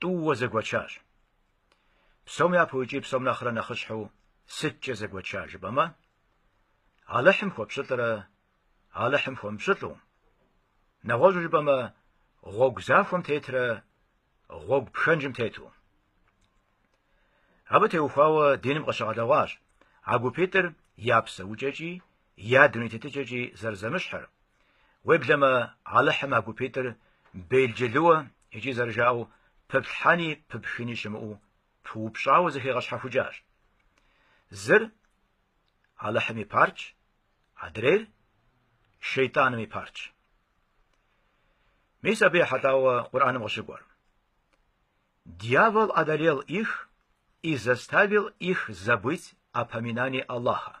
тӏууэ зэгуэчащ. Псом япэу икӏи псом нэхърэ нэхъыщхьэу сыткӏэ зэгуэча жыпӏэмэ, Алыхьым хуэпщӏылӏрэ Алыхьым хуэмыпщӏылӏу, нэгъуэщӏу жыпӏэмэ, гъуэгу захуэм тетрэ гъуэгу пхэнжым тету. Абы теухуауэ диным къыщыгъэлъэгъуащ а гупитӏыр я псэукӏэкӏи, я дуней тетыкӏэкӏи зэрызэмыщхьыр. Уеблэмэ, Алыхьым а гупитӏыр белджылыуэ икӏи зэрыжаӏэу пыплъхьэни пыпхыни щымыӏэу пыупщӏауэ зэхигъэщхьэхукӏащ. Зыр, Алыхьым и партщ, адрейр, шейтӏаным и партщ. Мис абы ехьэлӏауэ Къурӏэным къыщыкӏуэр. Дьявол одолел их и заставил их забыть о поминании Аллаха.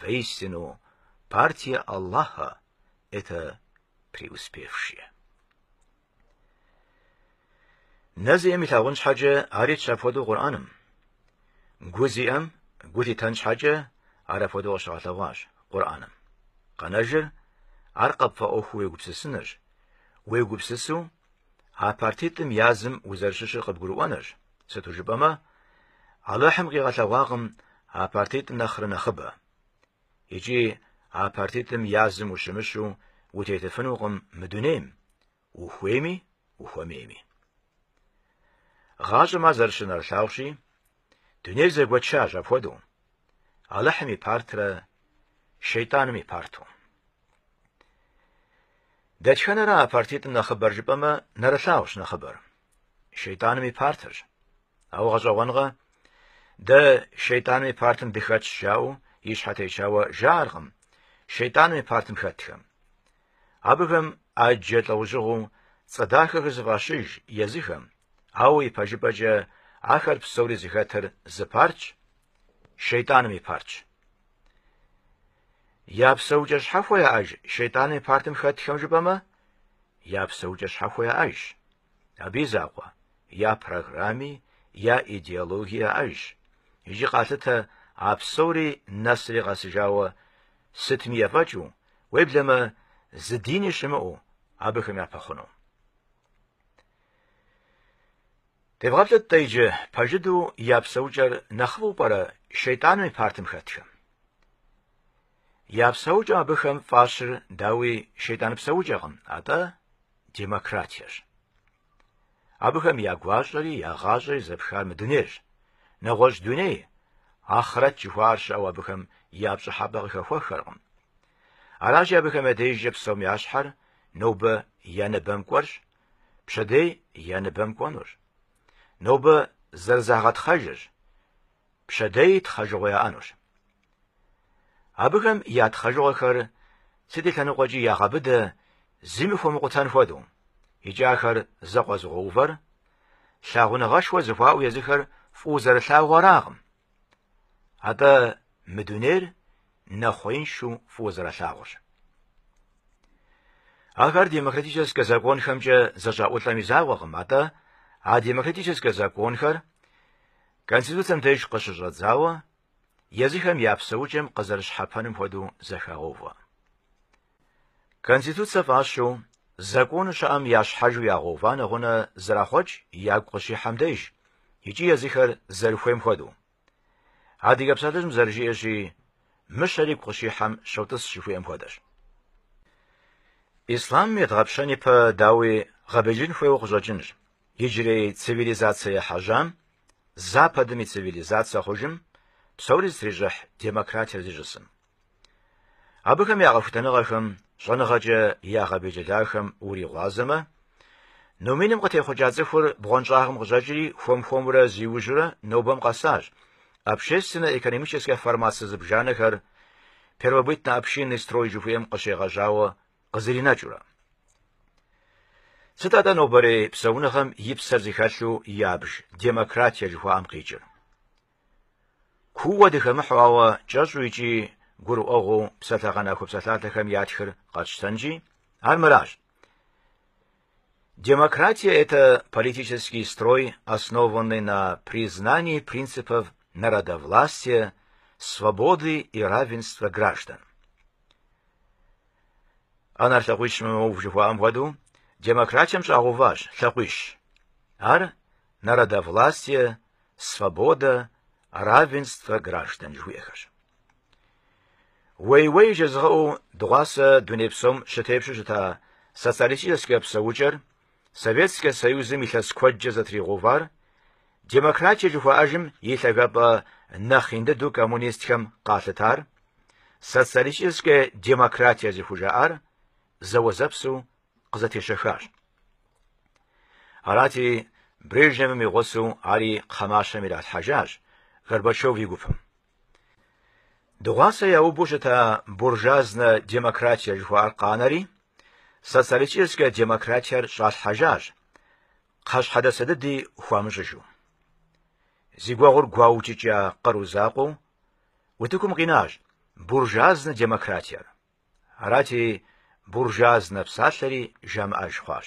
Воистину, партия Аллаха – это преуспевшие. Нэ зиӏэм илъагъун щхьэкӏэ ар итщ апхуэдэу Къурӏэным. Гу зиӏэм гу лъитэн щхьэкӏэ ар апхуэдэу къыщыгъэлъэгъуащ Къурӏэным. Къэнэжыр ар къыпфӏэӏуэхуу уегупсысынырщ, уегупсысу А партитӏым язым узэрыщыщыр къыбгурыӏуэнырщ, сыту жыпӏэмэ, Алыхьым къигъэлъэгъуакъым а партитӏым нэхърэ нэхъыбэ. Икӏи а партитӏым язым ущымыщу утетыфынукъым мы дунейм, ухуейми, ухуэмейми. Гъащӏэм ар зэрыщынэрылъагъущи, Дунейр зэгуэчащ апхуэдэу. Алыхьым и партрэ шейтӏаным и парту. Дэтхэнэра а партитӏым нэхъыбэр жыпӏэмэ, нэрылъагъущ нэхъыбэр. Шейтӏаным и партырщ. Ауэ гъэщӏэгъуэнкъэ, дэ шейтӏаным и партым дыхэтщ жаӏэу и щхьэ течауэ жаӏэркъым шейтӏаным и партым хэтхэм. Абыхэм ӏэджэ лӏэужьыгъуэу цӏэ дахэхэр зыфӏащыж езыхэм, ауэ ипэжыпӏэкӏэ ахэр псори зыхэтыр зы партщ, Шейтӏаным и партщ. Я псэукӏэ щхьэхуэ яӏэж Шейтӏаным и партым хэтхэм жыпӏэмэ, я псэукӏэ щхьэхуэ яӏэжщ. Абы и закъуэ я программи, я идеологи яӏэжщ. Икӏи къалъытэ а псори нэсри къэсыжауэ сытми ефӏэкӏыу, Уеблэмэ, зы дини щымыӏэу абыхэм япэхъуну. Девгъэплъыт-тӏэ иджы пэжыдэу я псэукӏэр нэхъыфӏу пӏэрэ шейтӏаным и партым хэтхэм? Я псэукӏэм абыхэм фӏащыр, дауи, шейтӏан псэукӏэкъым, атӏэ демократиещ. Абыхэм я гуащӏэри я гъащӏэри зэпхар мы дунейрщ. Нэгъуэщӏ дуней, ахърэт жыхуаӏэр щыӏэу абыхэм я пщӏыхьэпӏэ къыхэхуэххэркъым. Аращи, абыхэм я дежкӏэ псом я щхьэр нобэ я ныбэм кӏуэрщ, пщэдей я ныбэм кӏуэнурщ. Нобэ зэрызагъэтхъэжырщ, пщэдей тхъэжыгъуэ яӏэнущ. Абыхэм я тхъэжыгъуэхэр сыт и лъэныкъуэкӏи ягъэбыдэ, зыми хуэмыкъутэн хуэдэу, икӏи ахэр зэкъуэзыгъуэувэр, лъагъуныгъэшхуэ зэхуаӏэу езыхэр фӏыуэ зэрылъагъуу аракъым. Атӏэ мы дунейр нэхъуеиншэу фӏыуэ зэралъагъурщ. Ахэр демократическэ законхэмкӏэ зэщӏаӏулӏэм и закъуэкъым, атӏэ а демократическэ законхэр Конституцэм деж къыщыщӏэдзауэ, езыхэм я псэукӏэм къызэрыщхьэпэным хуэдэу зэхагъэувэ. Конституцэ фӏащу, закону щыӏэм ящхьэжу ягъэува нэгъунэ зэрахъуэкӏ ягу къыщихьэм деж икӏи езыхэр зэрыхуейм хуэдэу. Адыгэ псалъэжьым зэрыжиӏэщи, Мыщэр игу къыщихьэм щотӏыс жыхуиӏэм хуэдэщ. Ислъам едгъэпщэн ипэ, дауи, гъэбелджылын хуейуэ къыщӏэкӏынщ. Иджырей цивилизацэ ехьэжьам, Западым и цивилизацэ хъужым, псори зытрищӏыхь демократиер зищӏысым. Абыхэм я къэхутэныгъэхэм щӏэныгъэкӏэ ягъэбелджылахэм уригъуазэмэ, номиным къытехъукӏа цӏыхур бгъуэнщӏагъым къыщӏэкӏри хуэм-хуэмурэ зиужьурэ нобэм къэсащ, общественнэ-экономическэ формацэ зыбжанэхэр первобытно-общинный строй жыхуиӏэм къыщегъэжьауэ къызэринэкӏыурэ. Сыт атӏэ нобэрей псэуныгъэм и псэр зыхэлъу ябж демократие жыхуаӏэм къикӏыр? Кууэ дыхэмыхьу, ауэ кӏэщӏу икӏи гурыӏуэгъуэу псалъэгъэнахуэ псалъалъэхэм ятхыр къэтщтэнщи, ар мыращ. Демократия – это политический строй, основанный на признании принципов народовластия, свободы и равенства граждан. Ӏэнэр лъакъуищмэ мэув жыхуаӏэм хуэдэу демократием щӏагъэуващ лъакъуищ. Ар народовластие, свобода, равенство граждан жыхуиӏэхэрщ. Уей-уей жезыгъэӏэу дыгъуасэ дуней псом щытепщу щыта социалистическэ псэукӏэр Советскэ Союзым илъэс куэдкӏэ зэтригъэувар, демократие жыхуаӏэжым и лъагапӏэ нэхъ ин дыдэу коммунистхэм къалъытар, социалистическэ демократие зыхужаӏар зэуэзэпсу къызэтещэхащ. Арати, Брежневым и гъусэу ари кхъэмащэм иралъхьэжащ Горбачев и гупым. Дыгъуасэ яубу щыта буржуазнэ демократие жыхуаӏэр къанэри, Социалистическэ демократиер щӏалъхьэжащ, кхъэщхьэдэсэ дыди хуамыщӏыжу. Зи гуэгъур гуаукӏыкӏа къару закъуэу утыкум къинащ буржуазнэ демократиер. Арати, буржуазнэ псалъэри жамыӏэж хъуащ.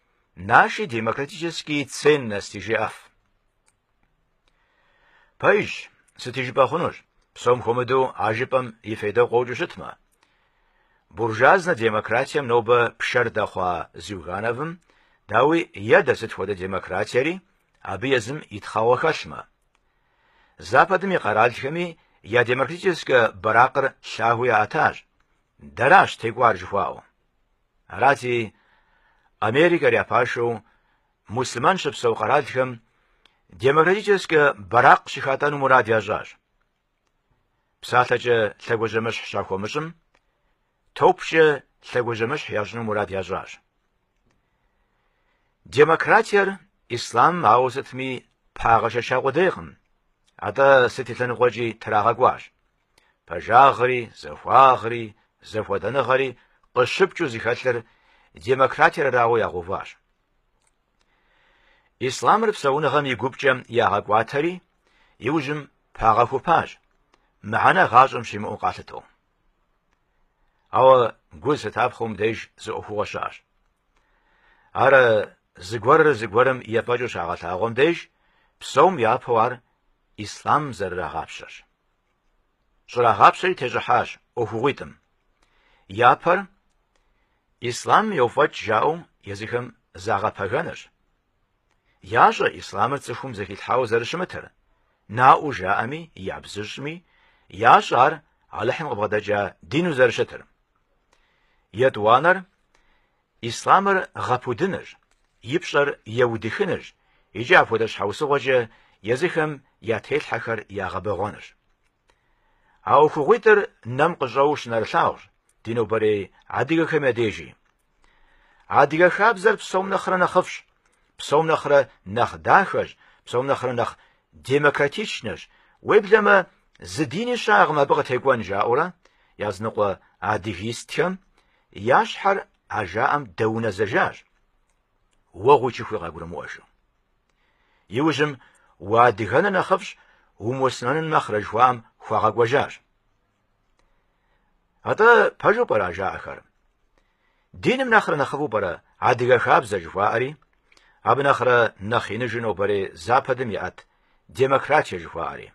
Наши демократические ценности жиӏэф. Пэж, сыти жыпӏэ хъунущ, псом хуэмыдэу а жыпӏэм и фейдэ къокӏыу щытмэ? Буржуазнэ демократием нобэ пшэр дэхъуа Зюгановым, дауи, едэ сыт хуэдэ демократиери, абы езым и тхъэгъуэ хэлъмэ. Западым и къэралхэми я демократическэ бэракъыр лъагэу яӏэтащ. Дэращ текӏуар жыхуаӏэу. Арати, Америкэр я пашэу муслъымэн щыпсэу къэралхэм демократическэ бэракъ щыхатӏэну мурад ящӏащ. Псалъэкӏэ лъэгуажьэмыщхь щахуэмыщӏым, топкӏэ лъэгуажьэмыщхь ящӏыну мурад ящӏащ. Демократиер ислам ауэ сытми пагъэшэча къудейкъым, атӏэ сыт и лъэныкъуэкӏи трагъэкӏуащ. Пэжагъри, зэхуагъри, зэхуэдэныгъэри къыщыпкӏыу зыхэлъыр демократиер арауэ ягъэуващ. Ислъамыр псэуныгъэм и гупкӏэ ягъэкӏуатэри, иужьым пагъэхупащ, мыхьэнэ гъащӏэм щимыӏэу къалъытэу. Ауэ гу зылъытапхъэу мыбдеж зы ӏуэхугъуэ щыӏэщ. Ар зыгуэрыр зыгуэрым ефӏэкӏыу щагъэлъагъуэм деж, псом япэу ар ислъамым зэрырагъапщэрщ. щӏрагъапщэри тещӏыхьащ ӏуэхугъуитӏым. Япэр ислъамым йофӏэкӏ жаӏэу езыхэм загъэпэгэнырщ. Ящӏэ ислъамыр цӏыхум зэхилъхьауэ зэрыщымытыр, наӏуэу жаӏэми, ябзыщӏми, ящӏэ ар Алыхьым къыбгъэдэкӏа дину зэрыщытыр. Етӏуанэр Ислъамыр гъэпудынырщ, и пщӏэр еудыхынырщ икӏи апхуэдэ щхьэусыгъуэкӏэ езыхэм я телъхьэхэр ягъэбэгъуэнырщ. А ӏуэхугъуитӏыр нэм къыщӏэуэу щынэрылъагъущ ди нобэрей адыгэхэм я дежи. Адыгэ хабзэр псом нэхърэ нэхъыфӏщ, псом нэхърэ нэхъ дахэщ, псом нэхърэ нэхъ демократичнэщ, уеблэмэ зы дини щыӏэкъым абы къытекӏуэн жаӏэурэ языныкъуэ адыгистхэм Я щхьэр а жаӏэм дэунэзэжащ, уэгъуи чыхуи къагурымыӏуэжу. Иужьым уадыгэныр нэхъыфӏщ, умуслъымэнын нэхърэ жыхуаӏэм хуагъэкӏуэжащ. Атӏэ пэжу пӏэрэ а жаӏэхэр? Диным нэхърэ нэхъыфӏу пӏэрэ адыгэ хабзэ жыхуаӏэри, абы нэхърэ нэхъ иныжу нобэрей Западым иӏэт демократие жыхуаӏэри?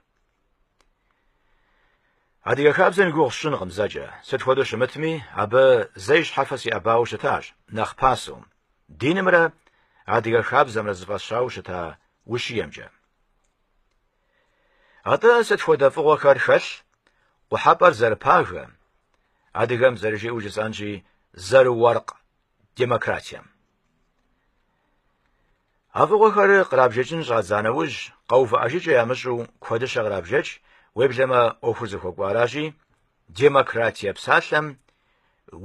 Адыгэ хабзэм и гугъу сщӏынкъым зэкӏэ, сыт хуэдэу щымытми, абы зэ и щхьэфэ сиӏэбауэ щытащ, нэхъ пасэу, динымрэ адыгэ хабзэмрэ зыфӏэсщауэ щыта ущиемкӏэ. Атӏэ сыт хуэдэ фӏыгъуэхэр хэлъ, къухьэпӏэр зэрыпагэ, адыгэм зэрыжиӏэу жысӏэнщи, зэрыуэркъ демократием. А фӏыгъуэхэр кърабжэкӏын щӏадза нэужь, къэувыӏэжыкӏэ ямыщӏу куэдыщэ кърабжэкӏ, уеблэмэ ӏуэхур зыхуэкӏуаращи, демократие псалъэм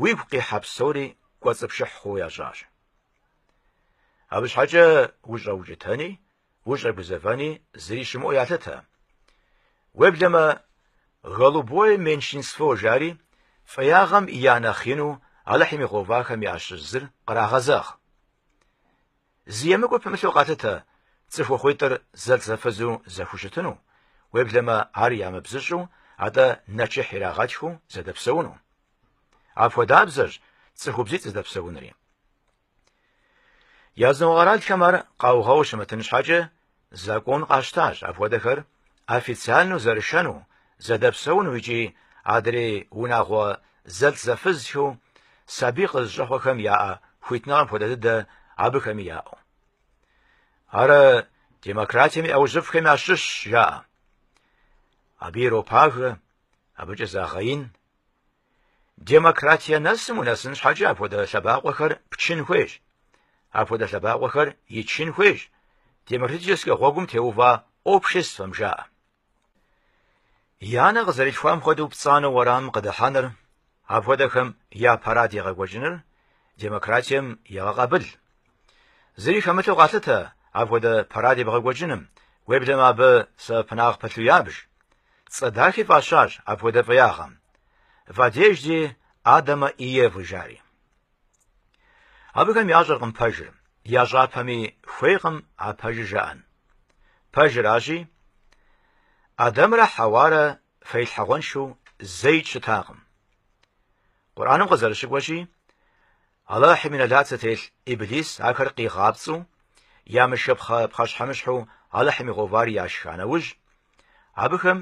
уигу къихьэ псори кӏуэцӏыпшыхь хъууэ ящӏащ. Абы щхьэкӏэ ущӏэукӏытэни, ущӏэгузэвэни зыри щымыӏэу ялъытэ. Уеблэмэ, голубое меньшинство жари, фӏеягъэм я нэхъ ину Алыхьым игъэувахэм ящыщ зыр кърагъэзэгъ. Зы емыкӏуэ пымылъу къалъытэ цӏыхухъуитӏыр зэлӏзэфызу зэхущытыну, уеблэмэ ар ямыбзыщӏу, атӏэ нэчыхь ирагъэтхыу зэдэпсэуну. Апхуэдабзэщ цӏыхубзитӏ зэдэпсэунри. Языныкъуэ къэралхэм ар къаугъэу щымытын щхьэкӏэ, Закон къащтащ апхуэдэхэр официальнэу зэрышэну, зэдэпсэуну икӏи адрей унагъуэ зэлӏзэфызхэу сабий къызыщӏэхъуэхэм яӏэ хуитныгъэм хуэдэ дыдэ абыхэми яӏэу. Ар демократием и ӏэужьыфӏхэм ящыщщ, жаӏэ. Абы иропагэ, абыкӏэ загъэин, Демократие нэсым унэсын щхьэкӏэ апхуэдэ лъэбакъуэхэр пчын хуейщ. Апхуэдэ лъэбакъуэхэр ичын хуейщ демократическэ гъуэгум теува обществэм жаӏэ. И анэ къызэрилъхуам хуэдэу пцӏанэу уэрамым къыдыхьэныр, апхуэдэхэм я парад егъэкӏуэкӏыныр демократием егъэкъабыл. Зыри хэмылъу къалъытэ апхуэдэ парад ебгъэкӏуэкӏыным, уеблэмэ абы сэбэпынагъ пэлъу ябж. Цӏэ дахи фӏащащ апхуэдэ фӏеягъэм. В одежде Адама и Евы жари. Абыхэм ящӏэркъым пэжыр, ящӏапэми хуейкъым а пэжыр жаӏэн. Пэжыращи, Адэмрэ Хьэуарэ фэилъхьэгъуэншэу зэи щытакъым. Къурӏаным къызэрыщыкӏуэщи, Алыхьым и нэлат зытелъ Иблис ахэр къигъапцӏэу, ямышхыпхъэ пхъэщхьэмыщхьэу Алыхьым игъэувар яшха нэужь, абыхэм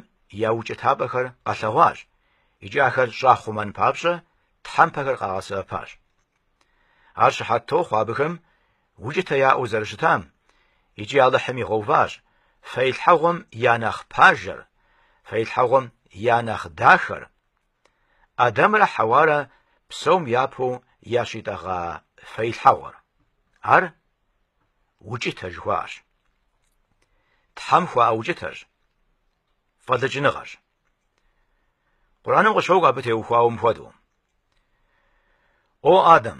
я укӏытапӏэхэр къэлъэгъуащ икӏи ахэр щӏахъумэн папщӏэ тхьэмпэхэр къагъэсэбэпащ. Ар щыхьэт тохъуэ абыхэм укӏытэ яӏэу зэрыщытам икӏи Алыхьым игъэуващ фэилъхьэгъуэм я нэхъ пажэр, фэилъхьэгъуэм я нэхъ дахэр, Адамрэ Хьэуарэ псом япэу ящӏитӏэгъа фэилъхьэгъуэр? Ар укӏытэ жыхуаӏэщ. Тхьэм хуаӏэ укӏытэщ. Фӏэлӏыкӏыныгъэщ. Къур'аным къыщокӏуэ абы теухуауэ мыхуэдэу. О Адам,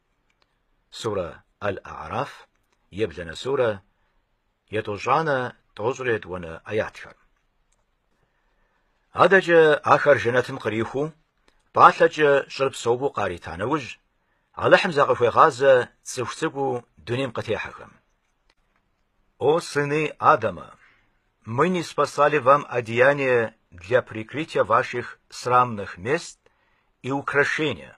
Сурэ Аль-А'араф, ебланэ сурэ, етӏощӏанэ тӏощӏрэ етӏуанэ аятхэр. Адэкӏэ ахэр жэнэтым кърихуу, пӏалъэкӏэ щӏыр псэупӏэу къарита нэужь, Алыхьым закъыхуегъазэ цӏыху цӏыкӏуу дунейм къытехьэхэм. О сыны Адама! Мы ниспослали вам одеяние для прикрытия ваших срамных мест и украшения.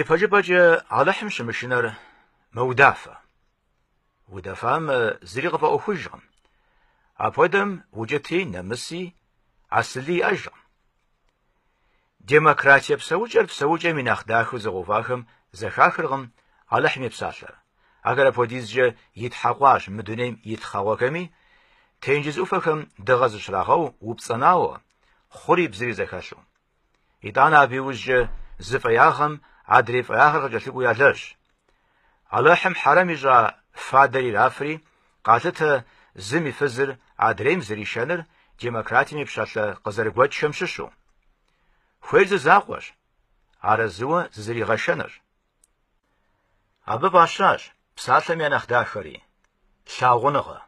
Ипэжыпӏэкӏэ Алыхьым щымышынэр мэудафэ. Удэфам зыри къыфӏэӏуэхужкъым. Апхуэдэм укӏыти, нэмыси, асыли иӏэжкъым. Демократие псэукӏэр псэукӏэм и нэхъ дахэу зыгъэувахэм зэхахыркъым Алыхьым и псалъэр. Ахэр апхуэдизкӏэ итхьэкъуащ мы дунейм и тхъэгъуэхэми, тенджыз ӏуфэхэм дыгъэ зыщрагъэу упцӏэнауэ, хъури бзыри зэхэлъу. Итӏанэ абы иужькӏэ зы фӏеягъэм адрей фӏеягъэр къыкӏэлъыкӏуэу ялэжь. Алыхьым хьэрэм ищӏа фадэр ирафри, къалъытэ зым и фызыр адрейм зэришэныр демократием и пщалъэ къызэрыгуэкӏхэм щыщу. Хуейр зы закъуэщ, арэзыуэ зызэригъэшэнырщ. Абы фӏащащ псалъэм я нэхъ дахэри, лъагъуныгъэ.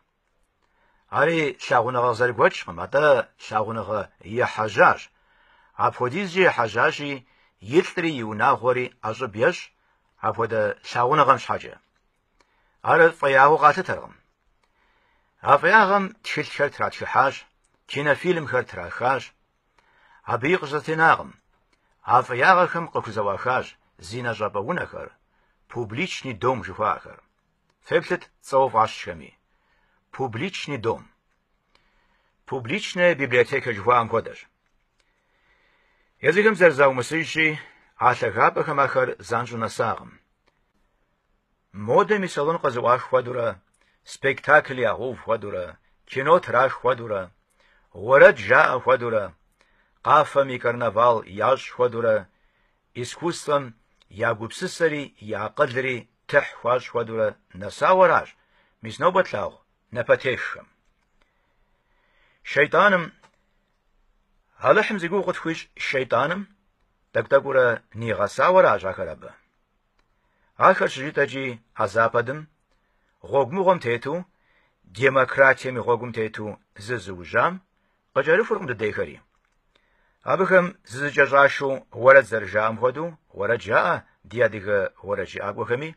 Ари лъагъуныгъэ къызэрыгуэкӏкъым, атӏэ лъагъуныгъэ ехьэжьащ. Апхуэдизкӏэ ехьэжьащи, и лӏри и унагъуэри ӏэщӏыб ещӏ апхуэдэ лъагъуныгъэм щхьэкӏэ. Ар фӏеягъэу къалъытэркъым. А фӏеягъэм тхылъхэр тратхыхьащ, кинофильмхэр трахащ. Абыи къыщызэтенакъым. А фӏеягъэхэм къыхузэӏуахащ зинэ щӏапӏэ унэхэр, публичный дом жыхуаӏэхэр. Феплъыт цӏэу фӏащхэми. Публичный дом. Публичная библиотека жыхуаӏэм хуэдэщ. Езыхэм зэрызаумысыжщи, а лъагапӏэхэм ахэр занщӏэу нэсакъым. Модэм и салон къызэӏуах хуэдурэ, спектакль ягъэув хуэдурэ, кино трах хуэдурэ, уэрэд жаӏэ хуэдурэ, къафэм и карнавал ящӏ хуэдурэ, искусствэм я гупсысэри и акъылри Тыхь хуащӏ хуэдэурэ нэсауэ аращ, мис нобэ тлъагъу напэтеххэм. Шейтӏаным Алыхьым зи гугъу къытхуищӏ шейтӏаным тӏэкӏу-тӏэкӏуурэ нигъэсауэ аращ ахэр абы. Ахэр щыжытӏэкӏи а западым гъуэгу мыгъуэм тету, демократием и гъуэгум тету зызыужьам Къыкӏэрыхуркъым дыдейхэри. Абыхэм зызыкӏэщӏашэу уэрэд зэрыжаӏэм хуэдэу уэрэд жаӏэ ди адыгэ уэрэджыӏакӏуэхэми.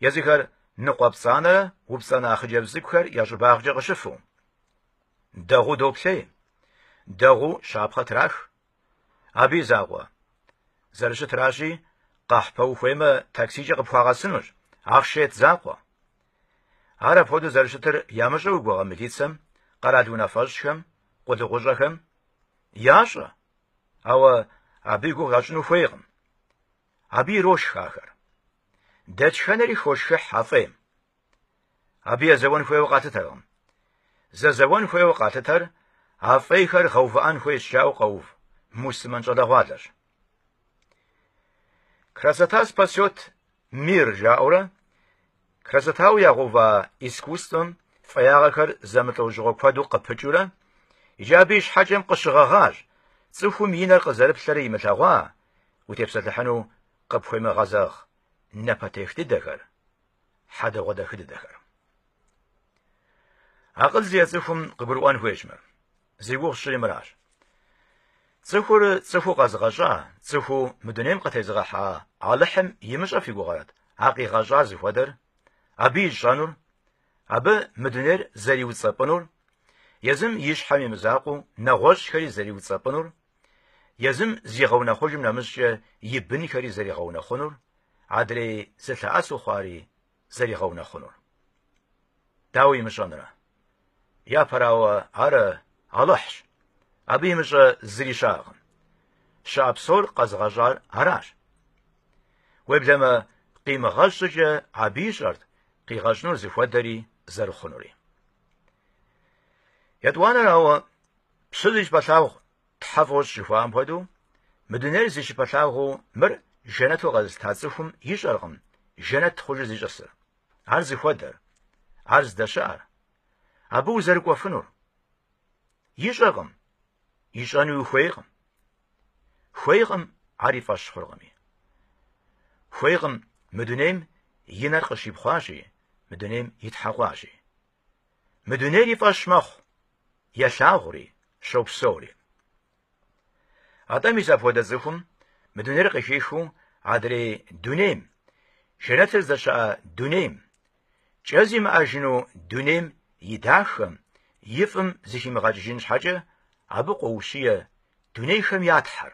Езыхэр ныкъуэпцӏанэрэ упцӏэнэ хъыджэбз цӏыкӏухэр я щӏыбагъкӏэ къыщыфу. Дэгъуу доплъей. Дэгъуу щапхъэ трах. Абы и закъуэ. Зэрыщытращи, къэхьпэ ухуеймэ, таксикӏэ къыпхуагъэсынущ, ахъшэ ет закъуэ. Ар апхуэдэу зэрыщытыр ямыщӏэ уи гугъэ милицэм, къэрал унафэщӏхэм, къулыкъущӏэхэм? Ящӏэ! Ауэ абы и гугъу ящӏыну хуейкъым. Абы ирошх ахэр. Дэтхэнэри хошхыхь а фӏейм. Абы езэуэн хуейуэ къалъытэркъым. Зэзэуэн хуейуэ къалъытэр а фӏейхэр гъэувыӏэн хуейщ жаӏэу къэув мусымэн щӏалэгъуалэщ. Красота спасет мир жаӏэурэ красотауэ ягъэува искусствэм фӏеягъэхэр зэмылӏэужьыгъуэ куэду къыпыкӏыурэ икӏи абы и щхьэкӏэм къыщыгъэгъащ цӏыхум и нэр къызэрыплъэрэ имылъэгъуа утепсэлъыхьыну къыпхуемыгъэзэгъ напэтех дыдэхэр. хьэдэгъуэдахэ дыдэхэр. Акъыл зиӏэ цӏыхум къыгурыӏуэн хуейщ мыр. Зи гугъу сщӏыри мыращ. Цӏыхур цӏыхуу къэзыгъэщӏа, цӏыхуу мы дунейм къытезыгъэхьа Алыхьым имыщӏэ фи гугъэрэт, а къигъэщӏар зыхуэдэр, абы ищӏэнур, абы мы дунейр зэриуцӏэпӏынур, езым и щхьэм и мызакъуэу нэгъуэщӏхэри зэриуцӏэпӏынур, Езым зигъэунэхъужым нэмыщӏкӏэ и бынхэри зэригъэунэхъунур, адрей зылъэӏэсу хъуари зэригъэунэхъунур. Дауэ имыщӏэнрэ? Япэрауэ, ар Алыхьщ. Абы имыщӏэ зыри щыӏэкъым. Щыӏэ псор къэзыгъэщӏар аращ. Уеблэмэ, къимыгъэщӏ щӏыкӏэ абы ищӏэрт къигъэщӏынур зыхуэдэри зэрыхъунури. Етӏуанэрауэ, Пщы зи щыпэлъагъу Тхьэ фӏощӏ жыхуаӏэм хуэдэу, мы дунейр зи щыпэлъагъуу мыр жэнэту къэзылъыта цӏыхум ищӏэркъым жэнэт хъужыр зищӏысыр, ар зыхуэдэр, ар здэщыӏэр, абы узэрыкӏуэфынур. Ищӏэркъым, ищӏэнуи хуейкъым. Хуейкъым, ар и фӏэщ хъуркъыми. Хуейкъым, мы дунейм и нэр къыщипхъуащи, мы дунейм итхьэкъуащи. Мы дунейр и фӏэщ мэхъу, елъагъури, щопсэури. Атӏэ мис апхуэдэ цӏыхум мы дунейр къыхихыу адрей дунейм, жэнэтыр здэщыӏэ дунейм, кӏэ зимыӏэжыну дунейм и дахэм, и фӏым зыхимыгъэкӏыжын щхьэкӏэ абы къоущие дунейхэм я Тхьэр,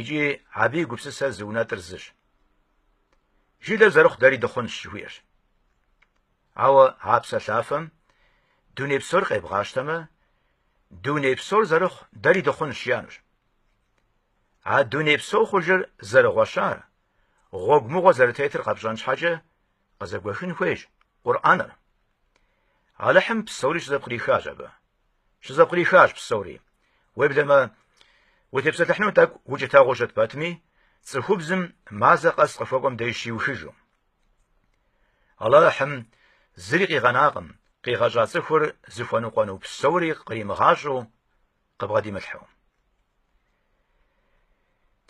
Икӏи абы и гупсысэр зы унэтӏыр зыщ. Жылэр зэрыхъу дэри дыхъунщ, жыхуиӏэщ. Ауэ а псэлъафэм дуней псор къебгъащтэмэ, дуней псор зэрыхъу дэри дыхъунщ жиӏэнущ. А дуней псо хъужыр зэрыгъуэщар, гъуэгу мыгъуэ зэрытетыр къэпщӏэн щхьэкӏэ къызэгуэхын хуейщ Къурӏэныр. Алыхьым псори щызэпкърихащ абы. Щызэпкърихащ псори. Уеблэмэ, утепсэлъыхьыну тӏэкӏу укӏытэгъуэу щыт пэтми, цӏыхубзым мазэ къэс къыхуэкӏуэм деж щиухыжу. Алыхьым зыри къигъэнакъым, къигъэщӏа цӏыхур зыхуэныкъуэну псори къримыгъащӏэу, къыбгъэдимылъхьэу.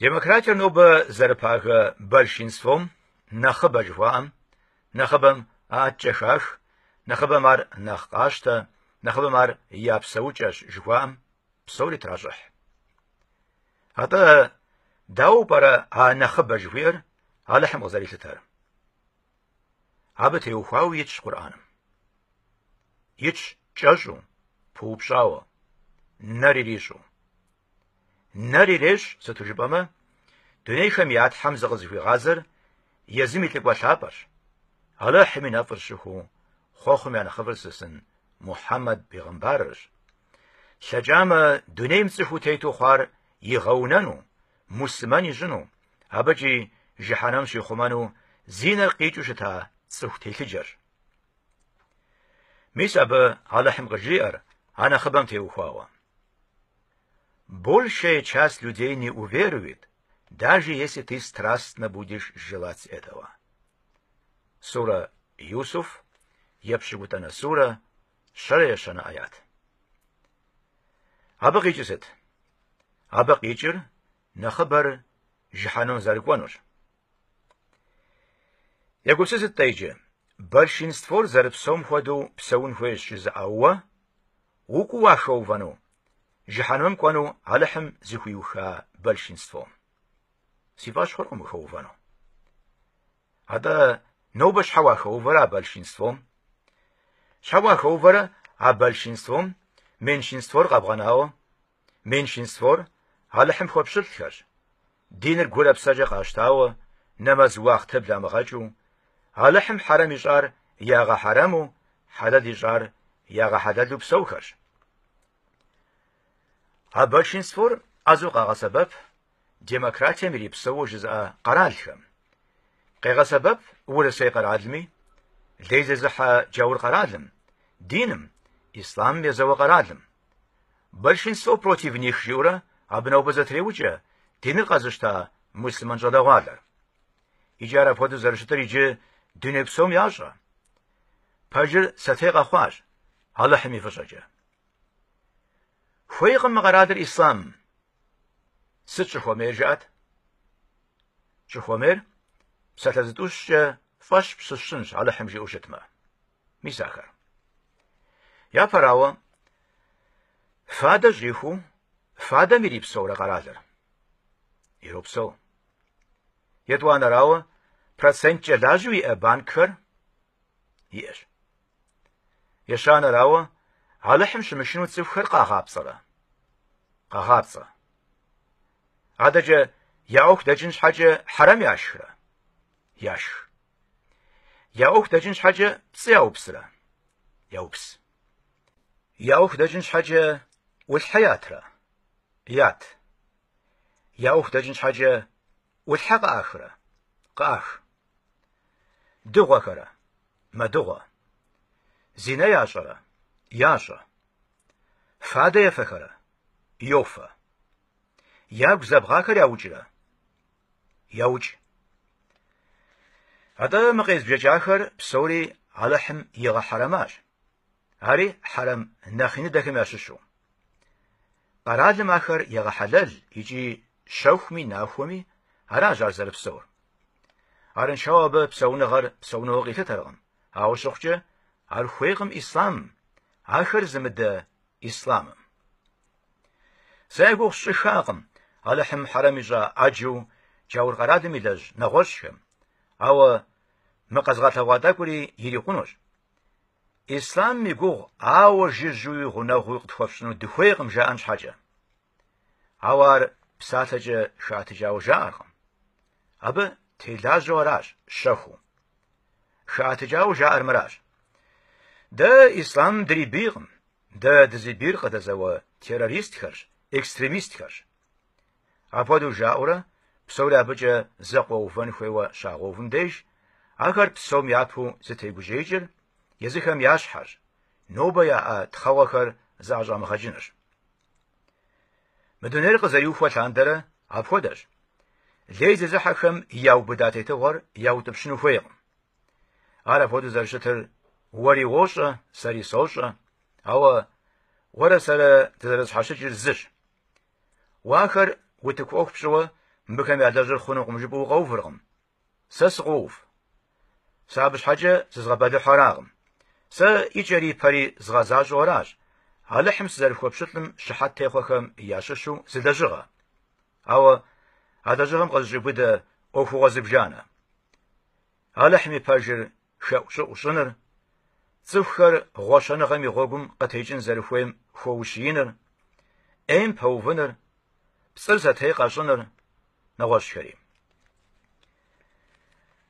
Демократиер нобэ зэрыпагэ большинством нэхъыбэ жыхуаӏэм, нэхъыбэм атчӏэ хах, нэхъыбэм ар нэхъ къащтэ, нэхъыбэм ар я псэукӏэщ жыхуаӏэм псори тращӏыхь. Атӏэ дауэ пӏэрэ а нэхъыбэ жыхуиӏэр Алыхьым къызэрилъытэр? Абы теухуауэ итщ Къурӏэным. Итщ кӏэщӏу, пыупщӏауэ, нэр ирищӏу. Нэр ирещӏ, сыту жыпӏэмэ, дунейхэм я Тхьэм зыкъызыхуигъазэр езым и лӏыкӏуэ лъапӏэрщ. Алыхьым и нэфӏыр щыхуу, хъуэхъум я нэхъыфӏыр лъысын Мухьэммэд бегъымбарырщ. Лъэкӏамэ, дунейм цӏыхуу тету хъуар игъэунэну, муслъымэн ищӏыну, абыкӏи жыхьэнэм щихъумэну зи нэр къикӏыу щыта цӏыху телъыджэрщ. Мис абы Алыхьым къыжриӏэр а нэхъыбэм теухуауэ. Большая часть людей не уверует, даже если ты страстно будешь желать этого. Сура Юсуф, епщыкӏутӏанэ сурэ, щэрэ ещанэ аят. Абы къикӏыр сыт? Абы къикӏыр нэхъыбэр жыхьэнэм зэрыкӏуэнурщ. Егупсысыт-тӏэ иджы, большинствор зэрыпсэум хуэдэу псэун хуейщ жызыӏэ уэ, укӏуу уахэувэну, жыхьэнэм кӏуэну Алыхьым зыхуиуха большинством. Си фӏэщ хъуркъым ухэувэну. Атӏэ нобэ щхьэ уахэувэрэ а большинством? Щхьэ уахэувэрэ а большинством меньшинствор къэбгъэнауэ? Меньшинствор Алыхьым хуэпщылӏхэрщ. Диныр гурэ псэкӏэ къащтауэ, нэмэз уахътэ бламыгъэкӏыу, Алыхьым хьэрэм ищӏар ягъэхьэрэму, хьэлэл ищӏар ягъэхьэлэлу псэухэрщ. А большинствор ӏэзэу къагъэсэбэп демократием ирипсэуэу жызыӏэ къэралхэм. Къегъэсэбэп Урысей къэралми, лей зезыхьэ Джаур къэралым, диным, ислъамым езэуэ къэралым. Большинство против них жиӏэурэ абы нобэ зэтреукӏэ диныр къэзыщта муслъымэн щӏалэгъуалэр. Икӏи ар апхуэдэу зэрыщытыр иджы дуней псом ящӏэ. Пэжыр сэтей къэхъуащ Алыхьым и фӏыщӏэкӏэ. Хуейкъым мы къэралыр ислъам, Сыт щӏыхуэмейр жыӏэт? Щӏыхуэмейр псалъэ зытӏущкӏэ фӏэщ пщысщӏынщ Алыхьым жиӏэу щытмэ. Мис ахэр. Япэрауэ, фадэ щӏихуу, фадэм ирипсэурэ къэралыр? Иропсэу. Етӏуанэрауэ, проценткӏэ лажьэу иӏэ банкхэр? Иӏэщ. Ещанэрауэ, Алыхьым щымышыну цӏыхухэр къагъапцӏэрэ? Къагъапцӏэ. Адэкӏэ я ӏуэху дэкӏын щхьэкӏэ хьэрэм яшхрэ? Яшх. Я ӏуэху дэкӏын щхьэкӏэ пцӏы яупсрэ? Яупс. Я ӏуэху дэкӏын щхьэкӏэ ӏулъхьэ ятрэ? Ят. Я ӏуэху дэкӏын щхьэкӏэ ӏулъхьэ къыӏахрэ? Къыӏах. Дыгъуэхэрэ? Мэдыгъуэ. Зинэ ящӏэрэ? Ящӏэ. Фадэ ефэхэрэ? Йофэ. Ягу зэбгъахэр яукӏрэ? Яукӏ. Атӏэ мы къезбжэкӏахэр псори Алыхьым игъэхьэрэмащ. Ари хьэрэм нэхъ иныдэхэм ящыщу. Къэралым ахэр егъэхьэлэл икӏи щэхуми нахуэми аращ ар зэрыпсэур. Арыншэу абы псэуныгъэр псэуныгъэу къилъытэркъым, ауэ щыхъукӏэ, ар хуейкъым ислъам ахэр зымыдэ ислъамым. Сэ я гугъу сщӏыхакъым Алыхьым хьэрэм ищӏа ӏэджэу Джаур къэралым илэжь нэгъуэщӏхэм, ауэ мы къэзыгъэлъэгъуа тӏэкӏури ирикъунущ. Ислъамым и гугъу, ауэ жыжьуи гъунэгъуи къытхуэфщӏыну дыхуейкъым жаӏэн щхьэкӏэ. Ауэ ар псалъэкӏэ щхьэтечауэ жаӏэркъым. Абы телажьэу аращ щэхуу. Щхьэтечауэ жаӏэр мыращ. Дэ ислъам дрибийкъым. Дэ дызибийр къыдэзэуэ террористхэрщ, экстремистхэрщ. Апхуэдэу жаӏэурэ, псори абыкӏэ зэкъуэувэн хуейуэ щагъэувым деж, ахэр псом япэу зытегужьеикӏыр езыхэм я щхьэрщ, нобэ яӏэ тхъэгъуэхэр зыӏэщӏамыгъэкӏынырщ. Мы дунейр къызэриухуэ лъандэрэ апхуэдэщ. Лей зезыхьэхэм яубыда тетыгъуэр яутӏыпщыну хуейкъым. Ар апхуэдэу зэрыщытыр уэри уощӏэ, сэри сощӏэ, ауэ уэрэ сэрэ дызэрызэщхьэщыкӏыр зыщ. Уэ ахэр утыку ӏуэху пщӏыуэ мыбыхэм ялэжьыр хъунукъым жыпӏэу укъэувыркъым. Сэ сыкъоув. Сэ абы щхьэкӏэ зызгъэбэлыхьу аракъым. Сэ икӏэри ипэри згъэзащӏэу аращ, Алыхьым сызэрыхуэпщылӏым щыхьэт техъуэхэм ящыщу зы лэжьыгъэ. Ауэ а лэжьыгъэм къызэщӏеубыдэ ӏуэхугъуэ зыбжанэ. Алыхьым и пэжыр хэӏущӏыӏу щӏыныр, цӏыхухэр гъуэщэныгъэм и гъуэгум къытекӏын зэрыхуейм хуэущииныр, ӏейм пэувыныр, пцӏыр сэтей къэщӏыныр, нэгъуэщӏхэри.